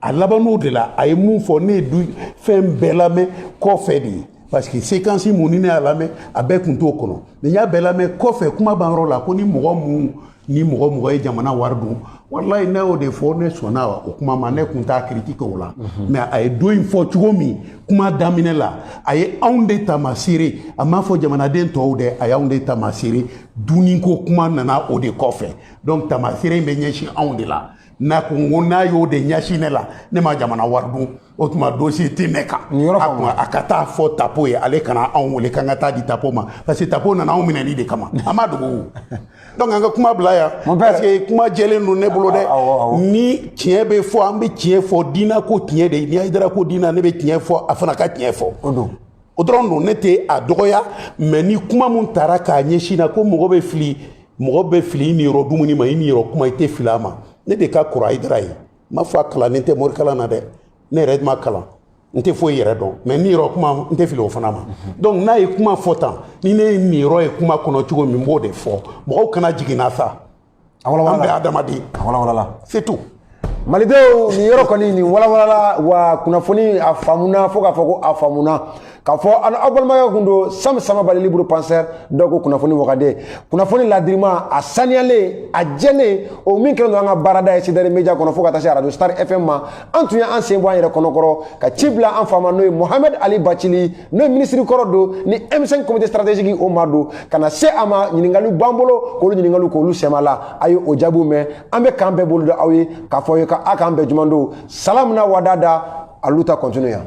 a labann'o de la a ye min fɔ ne ye du fɛn bɛɛ lamɛn kɔfɛ de ye parce que séquence mun ni ne y'a lamɛn a bɛɛ kun t'o kɔnɔ mais n y'a bɛɛ lamɛn kɔfɛ kuma banyɔrɔ la ko ni mɔgɔ mun ni mɔgɔ mɔgɔ ye jamana wari dun walayi ne y'o de fɔ ne sɔnna o kuma ma ne kun t'a critiquer o la mais a ye don in fɔ cogo min kuma daminɛ la a ye anw de taamasere a m'a fɔ jamanaden tɔw dɛ a y'anw de taamasere dunniko kuma nana o de kɔfɛ donc taamasere in bɛ ɲɛsin anw de la n'a ko n ko n'a y'o de ɲɛsin ne la ne ma jamana wari dun o tuma dosiye tɛ ne kan a ka taa fɔ tapo ye ale kana anw wele k'an ka taa di tapo ma parce que tapo nana anw minɛli de kama an ma dogo donc an ka kuma bila yan parce que kuma jɛlen don ne bolo dɛ ni tiɲɛ bɛ fɔ an bɛ tiɲɛ fɔ diinɛ ko tiɲɛ de ni hayidara ko diinɛ ne bɛ tiɲɛ fɔ a fana ka tiɲɛ fɔ o dɔrɔn don ne tɛ a dɔgɔya mais ni kuma min taara k'a ɲɛsin n na ko mɔgɔ bɛ fili mɔgɔ bɛ fili i niyɔrɔ dumuni ma i niyɔrɔ kuma i tɛ fili a ma ne de ka kɔrɔ hayidara ye n m'a fɔ a kalannen tɛ morikalan na dɛ ne yɛrɛ dun ma kalan n tɛ foyi yɛrɛ dɔn mais n niyɔrɔ kuma n tɛ fili o fana ma donc n'a ye kuma fɔ tan ni ne ye n niyɔrɔ ye kuma kɔnɔ cogo min n b'o de fɔ mɔgɔw kana jigin n na sa an bɛɛ adamaden c'est tout malidenw nin yɔrɔ kɔni nin walawalala wa kunnafoni a faamuna fo k'a fɔ ko a faamuna k'a fɔ aw balimakɛ kun don sam samabali libre penseur dɔw ko kunnafoni wagande kunnafoni ladirima a saniyalen a jɛlen o min kɛlen don an ka baarada ye cdr media kɔnɔ fo ka taa se radio star fm ma an tun ye an sen bɔ an yɛrɛ kɔnɔkɔrɔ ka ci bila an fa ma n'o ye mohamɛd ali bacili n'o ye minisiri kɔrɔ don ni M5 comité stratégique o maa don ka na se a ma ɲininkaliw b'an bolo k'olu ɲininkaliw k'olu sɛm'a la a ye o jaabiw mɛn an bɛ k'an bɛn bolo da aw ye k'a fɔ aw ye ka a k'an bɛn jumadon salam na wadada a luta continua